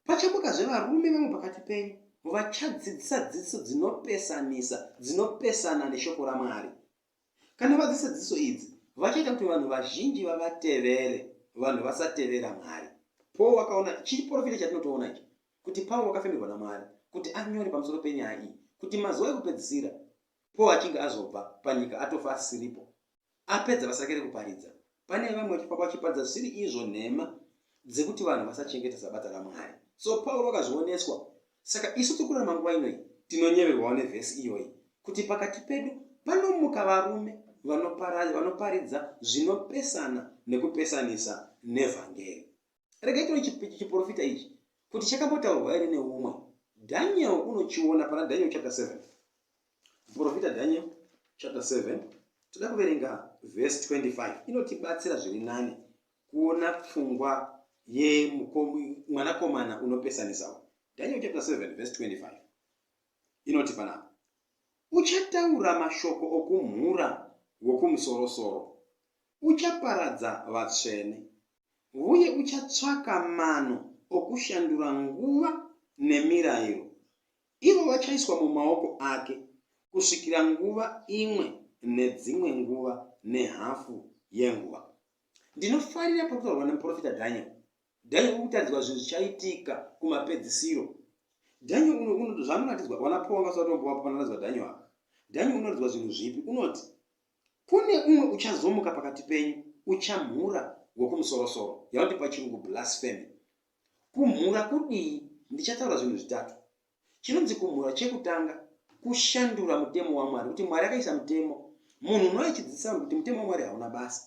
pachamukazve varume vamwe pakati penyu vachadzidzisa dzidziso dzinopesanisa dzinopesana neshoko ramwari kana vadzidzisa dzidziso idzi vachaita kuti vanhu vazhinji vavatevere vanhu vasatevera mwari paul wakaona chiri porofita chatinotoona ichi kuti paul wakafemerwa namwari kuti anyore pamusoro penyaya iyi kuti mazuva ekupedzisira paul achinge azobva panyika atofa asiripo apedza vasakere kuparidza pane vamwe vachifamba vachiparidza zvisiri izvo nhema dzekuti vanhu vasachengeta sabata ramwari so pauro akazvioneswa saka isu tiri kurarama nguva inoi tinonyeverwawo nevhesi iyoyi kuti pakati pedu panomuka varume vanoparidza zvinopesana nekupesanisa nevhangeri regai tino chiprofita ichi kuti chakambotaurwa here neumwe daniel unochiona pana daniel chapter 7 muprofita daniel chapter 7 toda kuverenga vhesi 25 inotibatsira zviri nani kuona pfungwa yemwanakomana unopesanisawo daniel chapter 7 vhesi 25 inoti panapa uchataura mashoko okumhura wokumusorosoro uchaparadza vatsvene uye uchatsvaka mano okushandura nguva nemirairo, ivo vachaiswa mumaoko ake kusvikira nguva imwe nedzimwe nguva nehafu yenguva. Ndinofarira pari kutaurwa nemuprofita Dhanieri. Dhanieri uri kutaridzwa zvinhu zvichaitika kumapedzisiro. Dhanieri uno uno zvanoratidzwa wana Paul vangasati vatombovapo panoratidzwa Dhanieri apa. Dhanieri unoratidzwa zvinhu zvipi? Unoti Kune umwe uchazomuka pakati penyu, uchamhura wokumusorosoro. Yavanoti pachirungu blasphemy. Kumhura kudii? Ndichataura zvinhu zvitatu. Chinonzi kumhura chekutanga, kushandura mutemo waMwari, kuti Mwari akaisa mutemo. Munhu unouya achidzidzisa vanhu kuti mutemo waMwari hauna basa.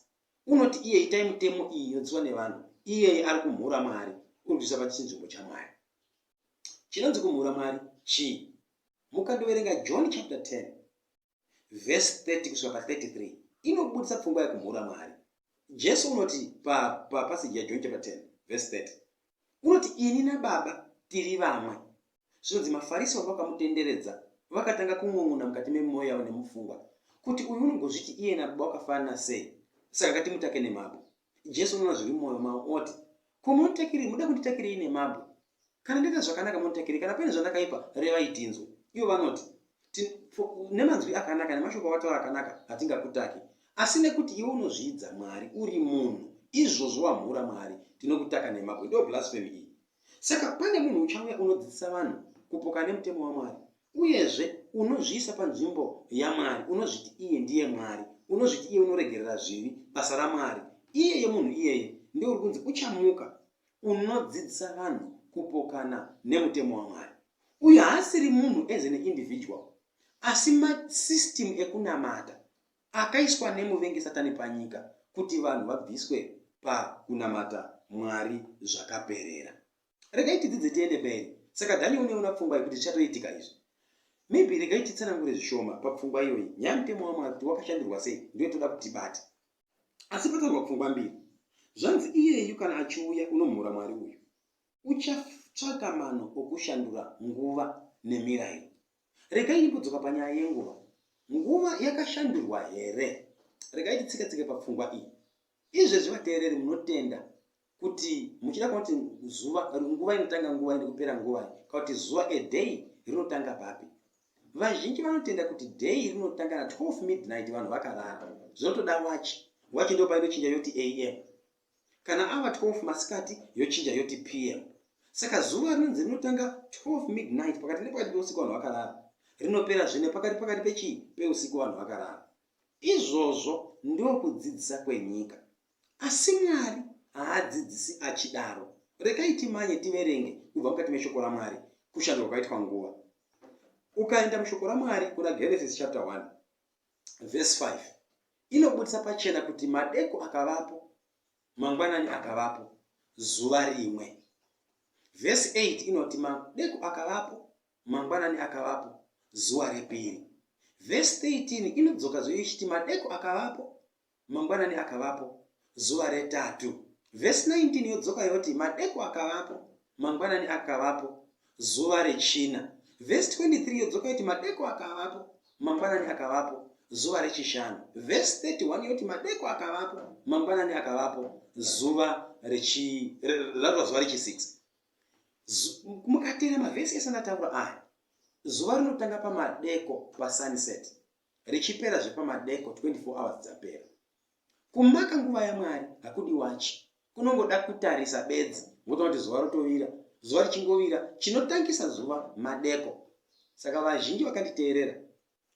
Unoti iye itai mutemo iyi inodzidziswa nevanhu. Iyeye ari kumhura Mwari, uri kuisa pachinzvimbo chaMwari. Chinonzi kumhura Mwari chii? Mukandoverenga John chapter 10 vhesi 30 kusvika pa 33 inobudisa pfungwa yekumhura Mwari. Jesu unoti papaseji pa yaJohn chapter 10 vhesi 30 unoti ini naBaba tiri vamwe. Zvinonzi maFarisi vanga vakamutenderedza vakatanga kun'un'una mukati memwoyo yavo nemupfungwa kuti uyu unongozviti iye naBaba wakafanana sei, saka ngatimutake nemabwe. Jesu unoona zviri mumwoyo mavo oti, Ko munditakirei? Munoda kunditakirei nemabwe? Kana ndaita zvakanaka munditakirei, kana paine zvandakaipa revai tinzwe. Ivo vanoti, Nemanzwi akanaka nemashoko avataura akanaka hatingakutaki, asi nekuti iwe unozviidza Mwari uri munhu, izvozvo wamhura Mwari, tinokutaka nemabwe. Ndo blasphemy iyi. Saka pane munhu uchauya unodzidzisa vanhu kupoka nemutemo waMwari. Uyezve, unozviisa panzvimbo yaMwari, unozviti iye ndiye Mwari, unozviti iye unoregerera zvivi, basa raMwari. Iyeye munhu iyeye ndiye uri kunzi uchamuka unodzidzisa vanhu kupokana nemutemo waMwari. Uyu haasiri munhu as an individual, asi masystem ekunamata akaiswa nemuvengi satani panyika kuti vanhu vabviswe pakunamata Mwari zvakaperera. regai tidzidze tiende mberi saka dhani uneona pfungwa yekuti zvichatoitika izvi maybe regai titsanangure zvishoma papfungwa iyoyi nyaya mutemo wamwari kuti wakashandirwa sei ndiyo toda kuti tibate asi pataurwa pfungwa mbiri zvanzi iyeyu kana achiuya unomhura mwari uyu uchatsvaka mano okushandura nguva nemirairo regai imbodzoka panyaya yenguva nguva yakashandurwa here regai titsikatsike papfungwa iyi izvezvi vateereri munotenda Kuti muchida kunoti zuva nguva inotanga nguva nekupera nguva kana kuti zuva a day rinotanga papi? Vazhinji vanotenda kuti day rinotanga na 12 midnight vanhu vakarara. Zvinotoda wachi. Wachi ndipo painochinja yoti am. Kana ava 12 masikati yochinja yoti pm. Saka zuva rinonzi rinotanga 12 midnight pakati nepakati peusiku vanhu vakarara. Rinopera zvine pakati pakati pechii peusiku vanhu vakarara. Izvozvo ndokudzidzisa kwenyika. Asi Mwari haadzidzisi achidaro. Regai timanye tiverenge kubva mukati meShoko raMwari kushandurwa kwakaitwa nguva. Ukaenda muShoko raMwari kuna Genesis chapter 1 verse 5 inobudisa pachena kuti madeko akavapo mangwanani akavapo zuva rimwe vhesi 8 inoti madeko akavapo Mangwanani akavapo, zuva repiri. Vhesi 13 inodzokazve ichiti, Madeko akavapo, mangwanani akavapo, zuva retatu. Vhesi 19 yodzoka yoti, Madeko akavapo, mangwanani akavapo, zuva rechina. Vhesi 23 yodzoka yoti, Madeko akavapo, mangwanani akavapo, zuva rechishanu. Vhesi 31 yoti, Madeko akavapo, mangwanani akavapo, zuva rechi, ratova zuva rechi 6. Mukateera mavhesi ese andataura aya, zuva rinotanga pamadeko pasunset richipera zvepamadeko 24 hours dzapera. Kumaka nguva yaMwari hakudi wachi, kunongoda kutarisa bedzi wotoona kuti zuva rotovira. Zuva richingovira chinotangisa zuva madeko. Saka vazhinji vakanditeerera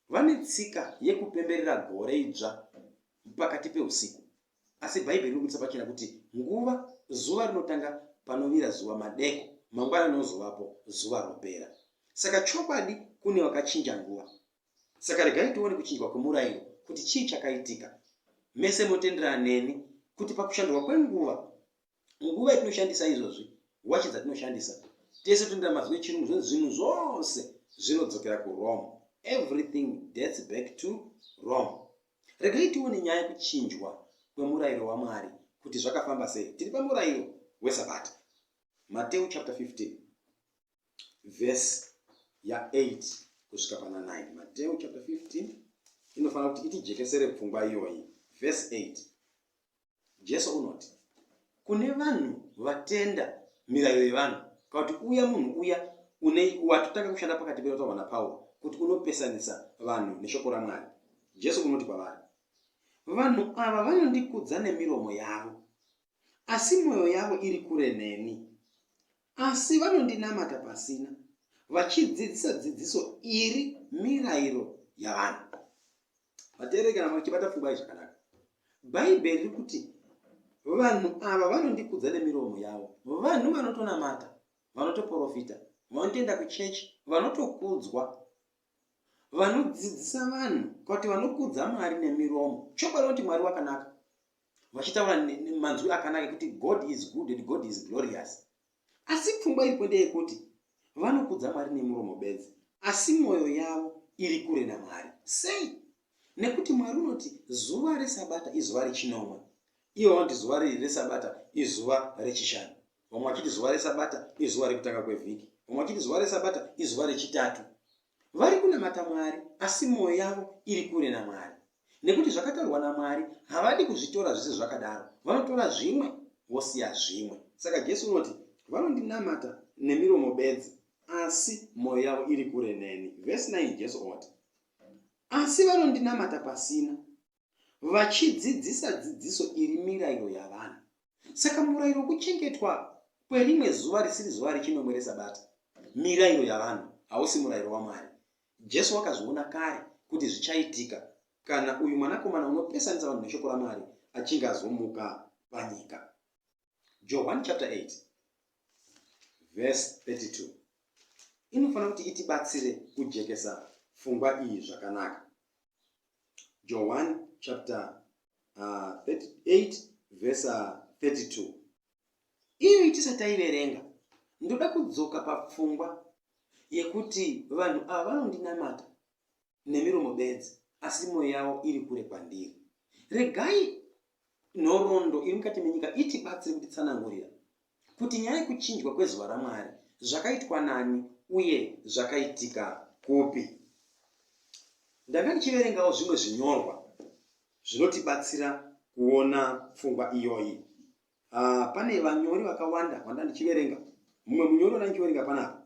vane tsika yekupemberera gore idzva pakati peusiku. Asi Bhaibheri rinobudisa pachena kuti nguva zuva rinotanga panovira zuva madeko, mangwana rinozovapo zuva ropera. Saka chokwadi kune wakachinja nguva. Saka regai tione kuchinjwa kwemurairo kuti chii chakaitika. Mese motenderana neni kuti pakushandurwa kwenguva nguva yatinoshandisa izvozvi wachi dzatinoshandisa tese tinoita mazwi echirungu zvonzi zvinhu zvose zvinodzokera kurome everything dates back to rome regai tione nyaya yekuchinjwa kwemurayiro wamwari kuti zvakafamba sei tiri pamurayiro wesabata mateu chapter 15 vhesi ya8 kusvika pana 9 mateu chapter 15 inofanira kuti itijekesere pfungwa iyoyi vhesi 8 Jesu unoti kune vanhu vatenda mirairo yevanhu kana kuti uya munhu uya une watotanga kushanda pakati pedu taurwa napauro kuti unopesanisa vanhu neshoko ramwari jesu unoti kwavari vanhu ava vanondikudza nemiromo yavo asi mwoyo yavo iri kure neni Asi vanondinamata pasina. Vachidzidzisa dzidziso iri mirayiro yavanhu. Vateereri kana machibata pfungwa iyi zvakanaka. Bhaibheri riri kuti vanhu ava vanondikudza nemiromo yavo. Vanhu vanotonamata, vanotoporofita, vanotoenda kuchechi, vanotokudzwa vanodzidzisa vanhu kuti vanokudza mwari nemiromo chokwadi vanoti mwari wakanaka vachitaura manzwi akanaka ekuti god is good and god is glorious asi pfungwa iripo ndeyekuti vanokudza mwari nemuromo bedzi asi mwoyo yavo iri kure namwari sei nekuti mwari unoti zuva resabata izuva rechinomwe ivo vanoti zuva riri resabata izuva rechishanu vamwe vachiti zuva resabata izuva rekutanga kwevhiki vamwe vachiti zuva resabata izuva rechitatu Vari kunamata Mwari asi mwoyo yavo iri kure naMwari nekuti zvakataurwa naMwari havadi kuzvitora zvese zvakadaro, vanotora zvimwe vosiya zvimwe. Saka Jesu unoti, Vanondinamata nemiromo bedzi asi mwoyo yavo iri kure neni. Vhesi 9 Jesu oti, Asi vanondinamata pasina. vachidzidzisa dzidziso iri mirayiro yavanhu. Saka murayiro wokuchengetwa kwerimwe zuva risiri zuva rechinomwe reSabata mirayiro yavanhu, hausi murayiro waMwari. Jesu wakazviona kare kuti zvichaitika kana uyu mwanakomana unopesanisa vanhu neshoko raMwari achinge azomuka panyika. Johwani chapter 8 verse 32 inofanira kuti itibatsire kujekesa pfungwa iyi zvakanaka. Johwani chapter uh, 38 verse 32 uh, iyoyi tisati taiverenga ndoda kudzoka papfungwa yekuti vanhu ava vanondinamata nemiromo bedzi asi mwoyo yavo iri kure kwandiri regai nhoroondo iri mukati menyika itibatsiri kutitsanangurira kuti nyaya yekuchinjwa kwezuva ramwari zvakaitwa nani uye zvakaitika kupi ndanga ndichiverengawo zvimwe zvinyorwa zvinotibatsira kuona pfungwa iyoyi Ah, pane vanyori vakawanda vanda ndichiverenga. Mumwe munyori wanda ndichiverenga panapa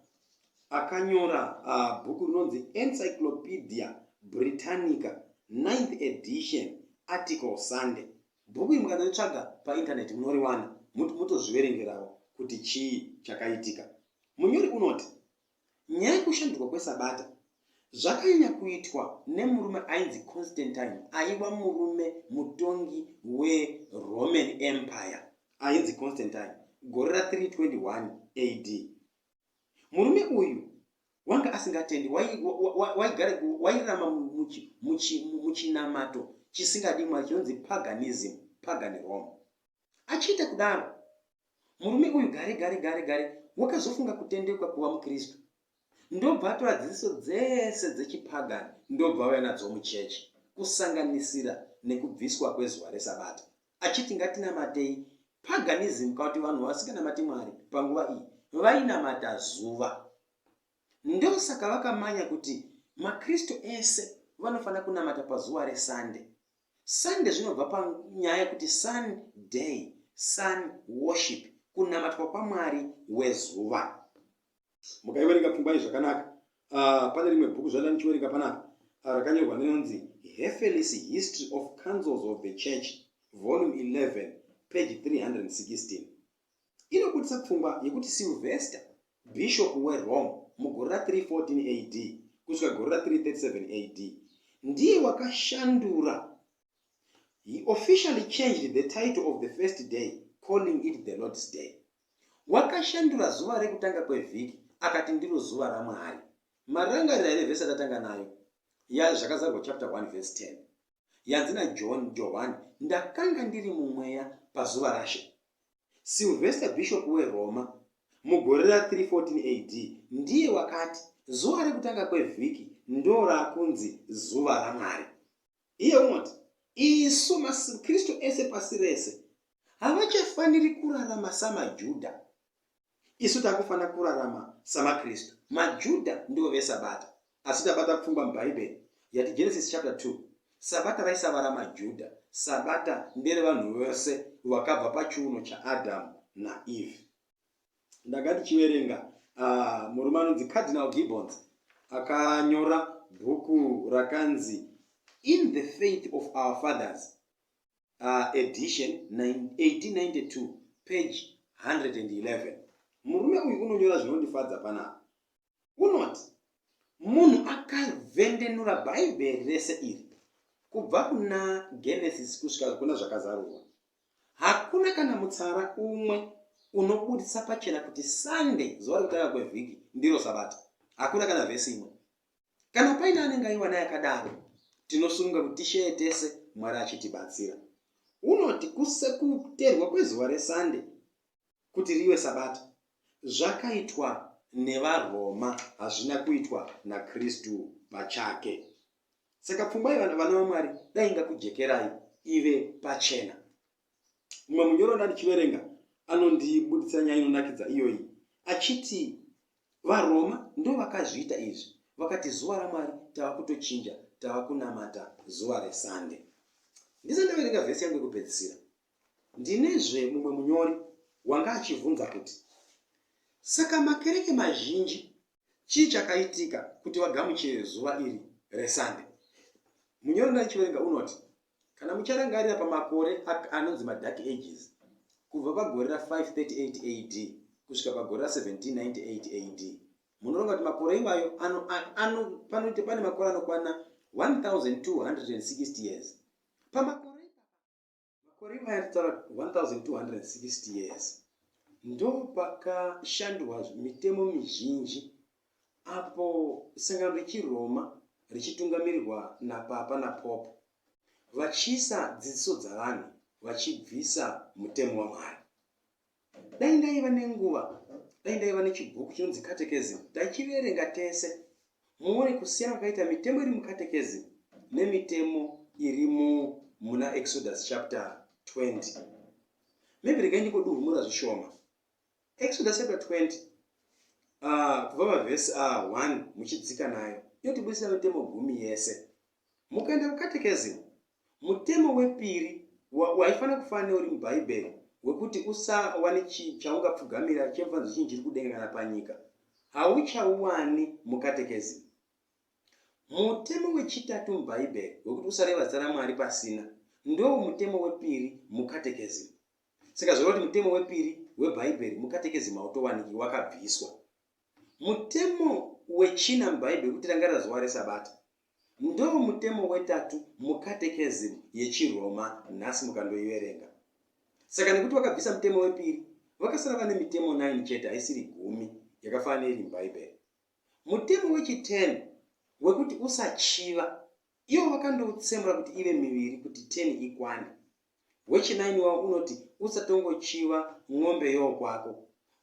akanyora uh, bhuku rinonzi Encyclopedia Britannica 9th edition article Sunday. Bhuku iri mukanaritsvaga paintaneti munoriwana motozviverengerawo kuti chii chakaitika. Munyori unoti Nyaya yekushandurwa kweSabata zvakanyanya kuitwa nemurume ainzi Constantine aiva murume mutongi weRoman Empire ainzi Constantine gore ra 321 AD. Murume uyu wanga asingatendi, waigara wairama muchinamato chisingadi Mwari chinonzi paganism, pagan Rome. Achiita kudaro, murume uyu gare gare gare gare wakazofunga kutendeuka kuva muKristu. Ndobva atora dzidziso dzese dzechipagani ndobva auya nadzo muchechi, kusanganisira nekubviswa kwezuva reSabata, achiti ngatinamatei paganism, kana kuti vanhu vasinganamati Mwari panguva iyi vainamata zuva. Ndosaka vakamanya kuti maKristu ese vanofanira kunamata pazuva reSande. Sande zvinobva panyaya yekuti sun day, sun worship, kunamatwa kwamwari wezuva. Mukaiverenga pfumbai zvakanaka. Uh, pane rimwe bhuku zvaida ndichiverenga panapa uh, rakanyorwa nenonzi Hefeli's History of Councils of the Church, volume 11, page 316. inobudisa pfungwa yekuti Sylvester, bhishopu weRome mugore ra 314 AD kusvika gore ra 337 AD, ndiye wakashandura He officially changed the title of the first day, calling it the Lord's Day. Wakashandura zuva rekutanga kwevhiki akati ndiro zuva raMwari. Marangarira here vhesi atatanga nayo? Ya zvakazarwa chapter 1 verse 10. yanzi naJohn Johwani, Ndakanga ndiri mumweya pazuva raShe Silvester, bhishopu weRoma, mugore ra 314 AD, ndiye wakati, Zuva rekutanga kwevhiki ndorakunzi zuva raMwari. Iye unoti, Isu maKristu ese pasi rese havachafaniri kurarama samaJudha. Isu takufanira kurarama samaKristu. MaJuda ndivo veSabata, asi tabata pfungwa muBhaibheri yati Genesis chapter 2 Sabata raisavara maJuda. Sabata nderevanhu vose vakabva pachiuno chaAdhamu naEve. Ndanga ndichiverenga uh, murume anonzi Cardinal Gibbons akanyora bhuku rakanzi In the Faith of Our Fathers. uh, edition 1892 page 111 murume uyu unonyora zvinondifadza panapa unoti munhu akavendenura bhaibheri rese iri kubva kuna genesis kusvika kuna zvakazarurwa hakuna kana mutsara umwe unobudisa pachena kuti sunday zuva rekutanga kwevhiki ndiro sabata hakuna kana vhesi imwe Kana paine anenge aiwana yakadaro, tinosununga kuti tisheye tese, Mwari achitibatsira. Unoti kuterwa kwezuva reSande kuti rive Sabata zvakaitwa nevaRoma, hazvina kuitwa naKristu pachake. Saka pfungwa yevana vana vaMwari dai ingakujekerai ive pachena. mumwe munyori wanda ndichiverenga anondibuditsa nyaya inonakidza iyoyi achiti varoma ndo vakazviita izvi vakati zuva ramwari tava kutochinja tava kunamata zuva resande ndisati ndaverenga vhesi yangu yekupedzisira ndinezve mumwe munyori wanga achivhunza kuti saka makereke mazhinji Chii chakaitika kuti vagamuchire zuva iri reSunday? Munyori ndaichiverenga unoti, Kana mucharangarira pamakore anonzi maDark Ages, kubva pagore ra 538 AD kusvika pagore ra 1798 AD, munoronga kuti makore iwayo panoita pane makore anokwana 1260 years. Pamakore Makore imaya titaura 1260 years ndopakashandwa mitemo mizhinji apo sangano rechiRoma richitungamirirwa napapa napope vachiisa dzidziso dzavanhu vachibvisa mutemo waMwari. Dai ndaiva nenguva, dai ndaiva nechibhuku chinonzi Catechism, taichiverenga tese muone kusiyana kwakaita mitemo iri muCatechism nemitemo iri muna Exodus chapter 20. Maybe regai ndingoduhumura zvishoma. Exodus chapter 20 uh, kubva pavhesi uh, 1 muchidzika nayo inotibudisira mitemo gumi yese Mukaenda kuCatechism, mutemo wepiri wa, waifanira kufanana neuri muBhaibheri, wekuti usava nechii chaungapfugamira chemfanzo chinhu chiri kudenga kana panyika, hauchauwani muCatechism. Mutemo wechitatu muBhaibheri, wekuti usareva zita raMwari pasina, ndowo mutemo wepiri muCatechism. Saka zvoreva kuti mutemo wepiri weBhaibheri muCatechism hautowaniki, wakabviswa. Mutemo wechina muBhaibheri, wekuti rangarira zuva reSabata, Ndomutemo wetatu muCatechism yechiRoma nhasi mukandoiverenga. Saka nekuti vakabvisa mutemo wepiri, vakasara vane mitemo 9 chete haisiri gumi yakafanana neiri muBhaibheri. Mutemo wechi-10 wekuti usachiva, ivo vakandoutsemura kuti ive miviri kuti 10 ikwane. Wechinaini wavo unoti, Usatongochiva mombe yowokwako.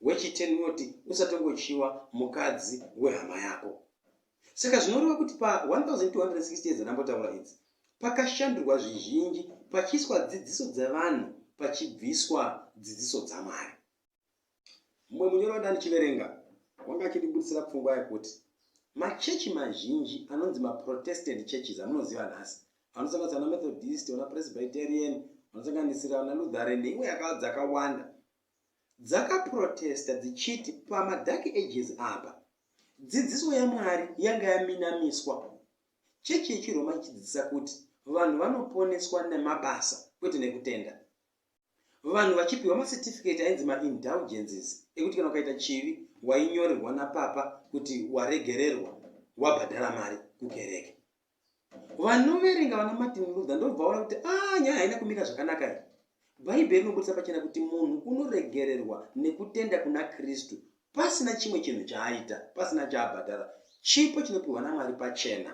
Wechiteni unoti, Usatongochiva mukadzi wehama yako. Saka zvinoreva kuti pa 1260 yedzanambotaura idzi, pakashandurwa zvizhinji pachiiswa dzidziso dzevanhu pachibviswa dzidziso dzaMwari. mumwe munyori wandandichiverenga wanga achindibudisira pfungwa yekuti machechi mazhinji anonzi maprotestant churches amunoziva nhasi anosanganisira na methodist ona presbyterian anosanganisira na lutheren neimwe yaka dzakawanda dzakaprotesta dzichiti pamadark ages apa dzidziso yamwari yanga yaminamiswa chechi yechiroma ichidzidzisa kuti vanhu vanoponeswa nemabasa kwete nekutenda vanhu vachipiwa macertificate ainzi maindulgences ekuti kana ukaita chivi wainyorerwa napapa kuti waregererwa wabhadhara mari kukereke vanoverenga vana martin luther ndobva vaona kuti a ah, nyaya haina kumira zvakanaka i bhaibheri rinobudisa pachena kuti munhu unoregererwa nekutenda kuna kristu pasina chimwe chinhu chaaita pasina chaabhadhara chipo chinopiwa namwari pachena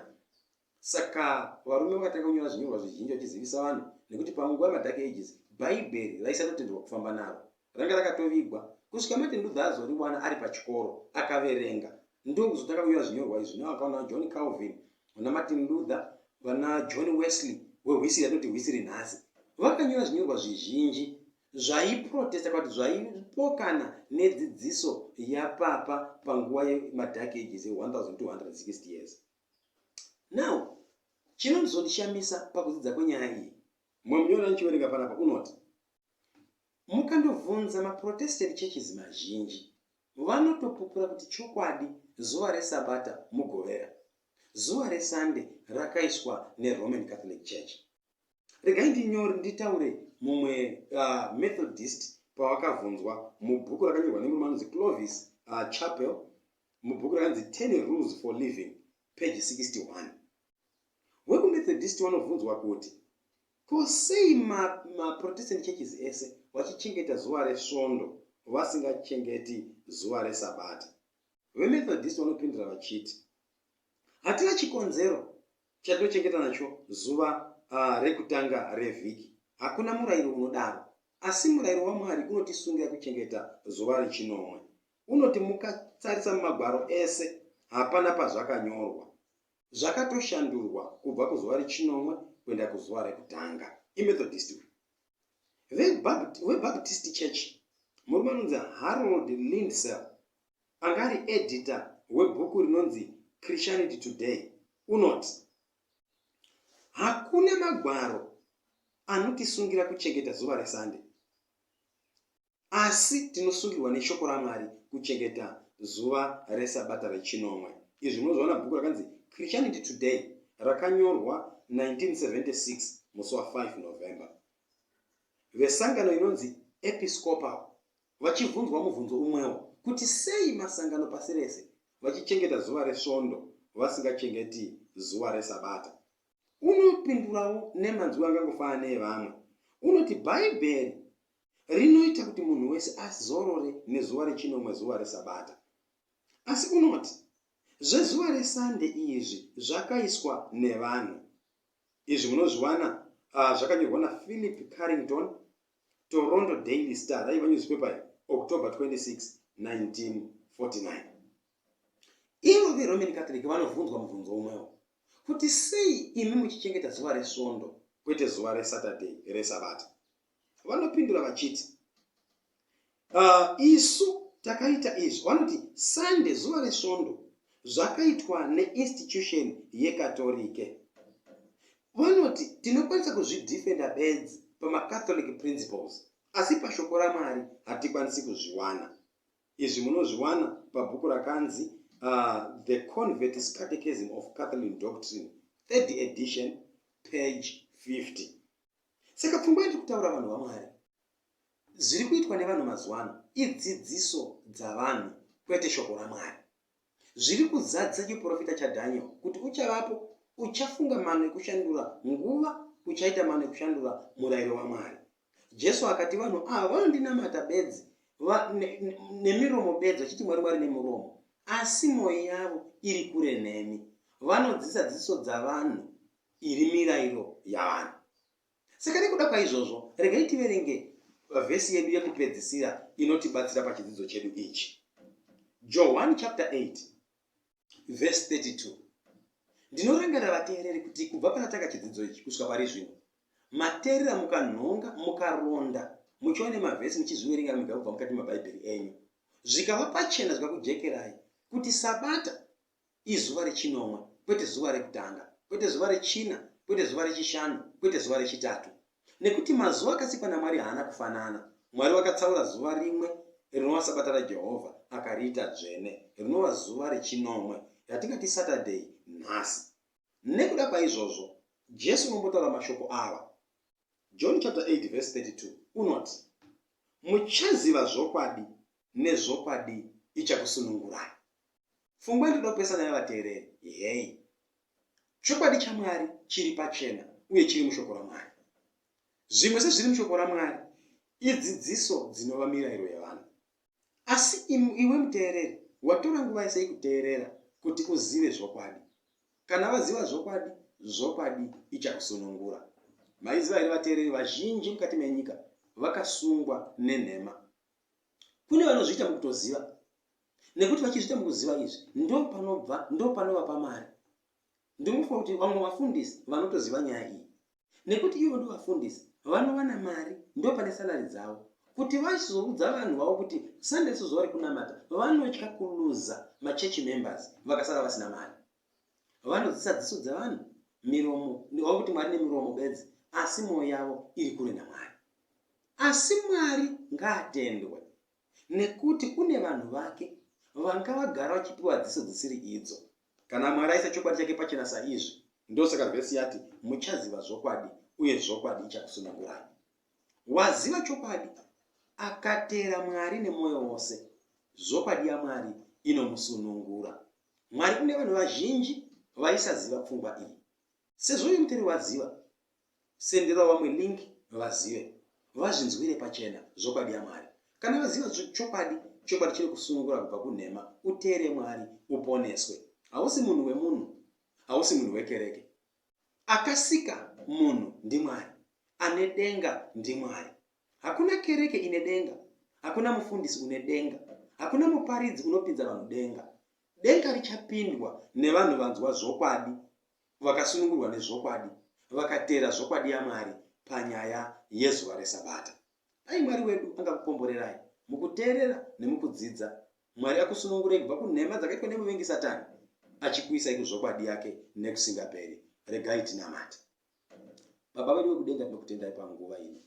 Saka varume vakatanga kunyora zvinyorwa zvizhinji vachizivisa vanhu nekuti pamwe nguva yemaDark Ages Bhaibheri raisatotenderwa kufamba naro. Ranga rakatovigwa. Kusvika Martin Luther azoriwana ari pachikoro, akaverenga. Ndokuzotanga kunyora zvinyorwa izvi zvinova vakaona vaJohn Calvin, vanaMartin Luther, vanaJohn Wesley wehwisiri yatinoti hwisiri nhasi. Vakanyora zvinyorwa zvizhinji zvaiprotesta kana kuti zvaipokana nedzidziso yapapa panguva yemaDark Ages ye 1260 years. now chinozondishamisa pakudzidza kwenyaya iyi mumwe munyori anochiverenga panapa unoti mukandobvunza maprotested churches mazhinji vanotopupura kuti chokwadi zuva resabata mugovera zuva resande rakaiswa neroman catholic church regai ndinyori nditaure mumwe uh, methodist pavakavhunzwa mubhuku rakanyorwa nemurume anonzi clovis uh, chapel mubhuku ranzi ten rules for living page 61 wekumethodist wanobvunzwa kuti ko sei maprotestant ma churches ese vachichengeta zuva resvondo vasingachengeti zuva resabata vemethodist vanopindura vachiti hatina chikonzero chatinochengeta nacho zuva uh, rekutanga revhiki hakuna murayiro unodaro asi murayiro wamwari unotisungira kuchengeta zuva rechinomwe unoti mukatarisa mumagwaro ese hapana pazvakanyorwa zvakatoshandurwa kubva kuzuva rechinomwe kuenda kuzuva rekutanga imethodist uyu vebaptist church murume anonzi harold lindsel anga ari edita webhuku rinonzi christianity today unoti hakuna magwaro anotisungira kuchengeta zuva resunday Asi tinosungirwa neShoko raMwari kuchengeta zuva reSabata rechinomwe. Izvi munozviona bhuku rakanzi Christianity Today rakanyorwa 1976 musi wa 5 November. Vesangano inonzi Episcopal vachibvunzwa mubvunzo umwewo kuti sei masangano pasi rese vachichengeta zuva reSvondo vasingachengeti zuva reSabata. Unopindurawo nemanzwi angangofanana neevamwe. Unoti Bhaibheri rinoita kuti munhu wese azorore nezuva rechinomwe zuva resabata asi unoti zvezuva resande izvi zvakaiswa nevanhu izvi munozviwana uh, zvakanyorwa naphilip carrington toronto daily star raiva newspaper ye october 26 1949 ivo veroman catholic vanobvunzwa mubvunzo umwewo kuti sei imi muchichengeta zuva resvondo kwete zuva resaturday resabata vanopindura vachiti uh, isu takaita izvi vanoti sunday zuva resvondo zvakaitwa neinstitution yekatorike vanoti tinokwanisa kuzvidefenda bedzi pamacatholic principles asi pashoko ramwari hatikwanisi kuzviwana izvi munozviwana pabhuku rakanzi uh, the convertis catechism of catholic doctrine third edition page 50 Saka pfungwa yatiri kutaura vanhu vaMwari, zviri kuitwa nevanhu mazuva ano idzidziso dzavanhu kwete shoko raMwari. Zviri kuzadzisa chiprofita chaDhaniel kuti uchavapo uchafunga mano ekushandura nguva, uchaita mano ekushandura murayiro waMwari. Jesu akati vanhu ava vanondinamata bedzi nemiromo bedzi vachiti mwari mwari nemuromo asi mwoyo yavo iri kure nemi vanodzisa dzidziso dzavanhu iri mirairo yavanhu. Saka nekuda kwaizvozvo, regai tiverenge vhesi yedu yekupedzisira inotibatsira pachidzidzo chedu ichi. Johani chapter 8 vhesi 32. Ndinorangarira vateereri kuti kubva panatanga chidzidzo ichi kusvika pari zvino, mateerera mukanhonga mukaronda muchiwa nemavhesi muchizviverenga mega kubva mukati mabhaibheri enyu zvikava pachena zvikakujekerai kuti sabata izuva rechinomwe, kwete zuva rekutanga, kwete zuva rechina, kwete zuva rechishanu, kwete zuva rechitatu. Nekuti mazuva akasikwa naMwari haana kufanana. Mwari vakatsaura zuva rimwe rinova Sabata raJehovha akariita dzvene, rinova zuva rechinomwe, ratingati Saturday nhasi. Nekuda kwaizvozvo, Jesu unombotaura mashoko ava. John chapter 8 verse 32 unoti, Muchaziva zvokwadi, nezvokwadi ichakusunungurai. Fungwa inoda kupesana nevateereri. Heyi. Chokwadi chaMwari chiri pachena uye chiri mushoko raMwari. Zvimwe sezviri mushoko raMwari idzidziso dzinova mirayiro yavanhu. Asi iwe muteereri watora nguva yese ikuteerera kuti uzive zvokwadi. Kana vaziva zvokwadi, zvokwadi ichakusunungura. Maiziva here vateereri vazhinji mukati menyika vakasungwa nenhema? kune vanozviita mukutoziva nekuti vachizviita mukuziva izvi ndo panobva ndo panovapa mari ndinofunga kuti vamwe vafundisi vanotoziva nyaya iyi nekuti ivo ndo vafundisi vanowana mari ndo pane salari dzavo kuti vachizoudza vanhu vavo kuti sunday sezuva rekunamata vanotya kuluza machechi members vakasara vasina mari vanodzisa dziso dzevanhu miromo ndova kuti mwari nemiromo bedzi asi mwoyo yavo iri kure namwari asi mwari ngaatendwe nekuti kune vanhu vake vanga vagara vachipiwa dziso dzisiri idzo kana mwari aisa chokwadi chake pachena saizvi ndosaka vhesi yati muchaziva zvokwadi uye zvokwadi ichakusunungurai waziva chokwadi akateera mwari nemwoyo wose zvokwadi yamwari inomusunungura Mwari kune vanhu vazhinji vaisaziva pfungwa iyi. Sezvo uyu mutendi waziva, senderawo vamwe link vazive, vazvinzwire pachena zvokwadi yaMwari. Kana vaziva chokwadi, chokwadi chinokusunungura kubva kunhema, uteere Mwari, uponeswe. Hausi munhu wemunhu, hausi munhu wekereke. Akasika munhu ndiMwari, ane denga ndiMwari. Hakuna kereke ine denga, hakuna mufundisi une denga, hakuna muparidzi unopinza vanhu denga. Denga richapindwa nevanhu vanzwa zvokwadi, vakasunungurwa nezvokwadi, vakateera zvokwadi yaMwari panyaya yezuva reSabata. Dai Mwari wedu angakukomborerai mukuteerera nemukudzidza. Mwari akusunungurei kubva kunhema dzakaitwa nemuvengi Satani, achikuisai kuzvokwadi yake nekusingaperi. Regai tinamate. Baba vedu vekudenga tinokutendai panguva ino.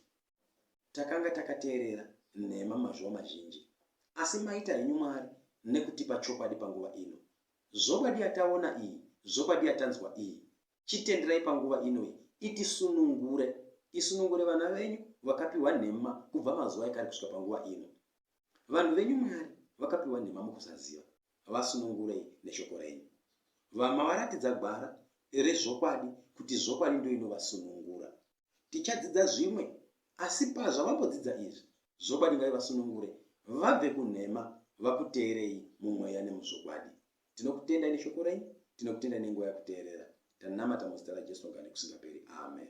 Takanga takateerera nhema mazuva mazhinji, asi maita henyu Mwari nekutipa chokwadi panguva ino. Zvokwadi yataona iyi, zvokwadi yatanzwa iyi, chitenderai panguva ino iyi itisunungure, isunungure vana venyu vakapiwa nhema kubva mazuva ekare kusvika panguva ino. Vanhu venyu Mwari vakapiwa nhema mukusaziva, havasunungurei neshoko renyu. Vamwe varatidza gwara rezvokwadi kuti zvokwadi ndiyo inovasunungura. Tichadzidza zvimwe, asi pazvavambodzidza izvi, zvokwadi ngaivasunungure vabve kunhema vakuteerei mumweya nemuzvokwadi. Tinokutendai neshoko renyu, tinokutendai nenguva yakuteerera. Tanamata muzita raJesu nogara nekusingaperi. Amen.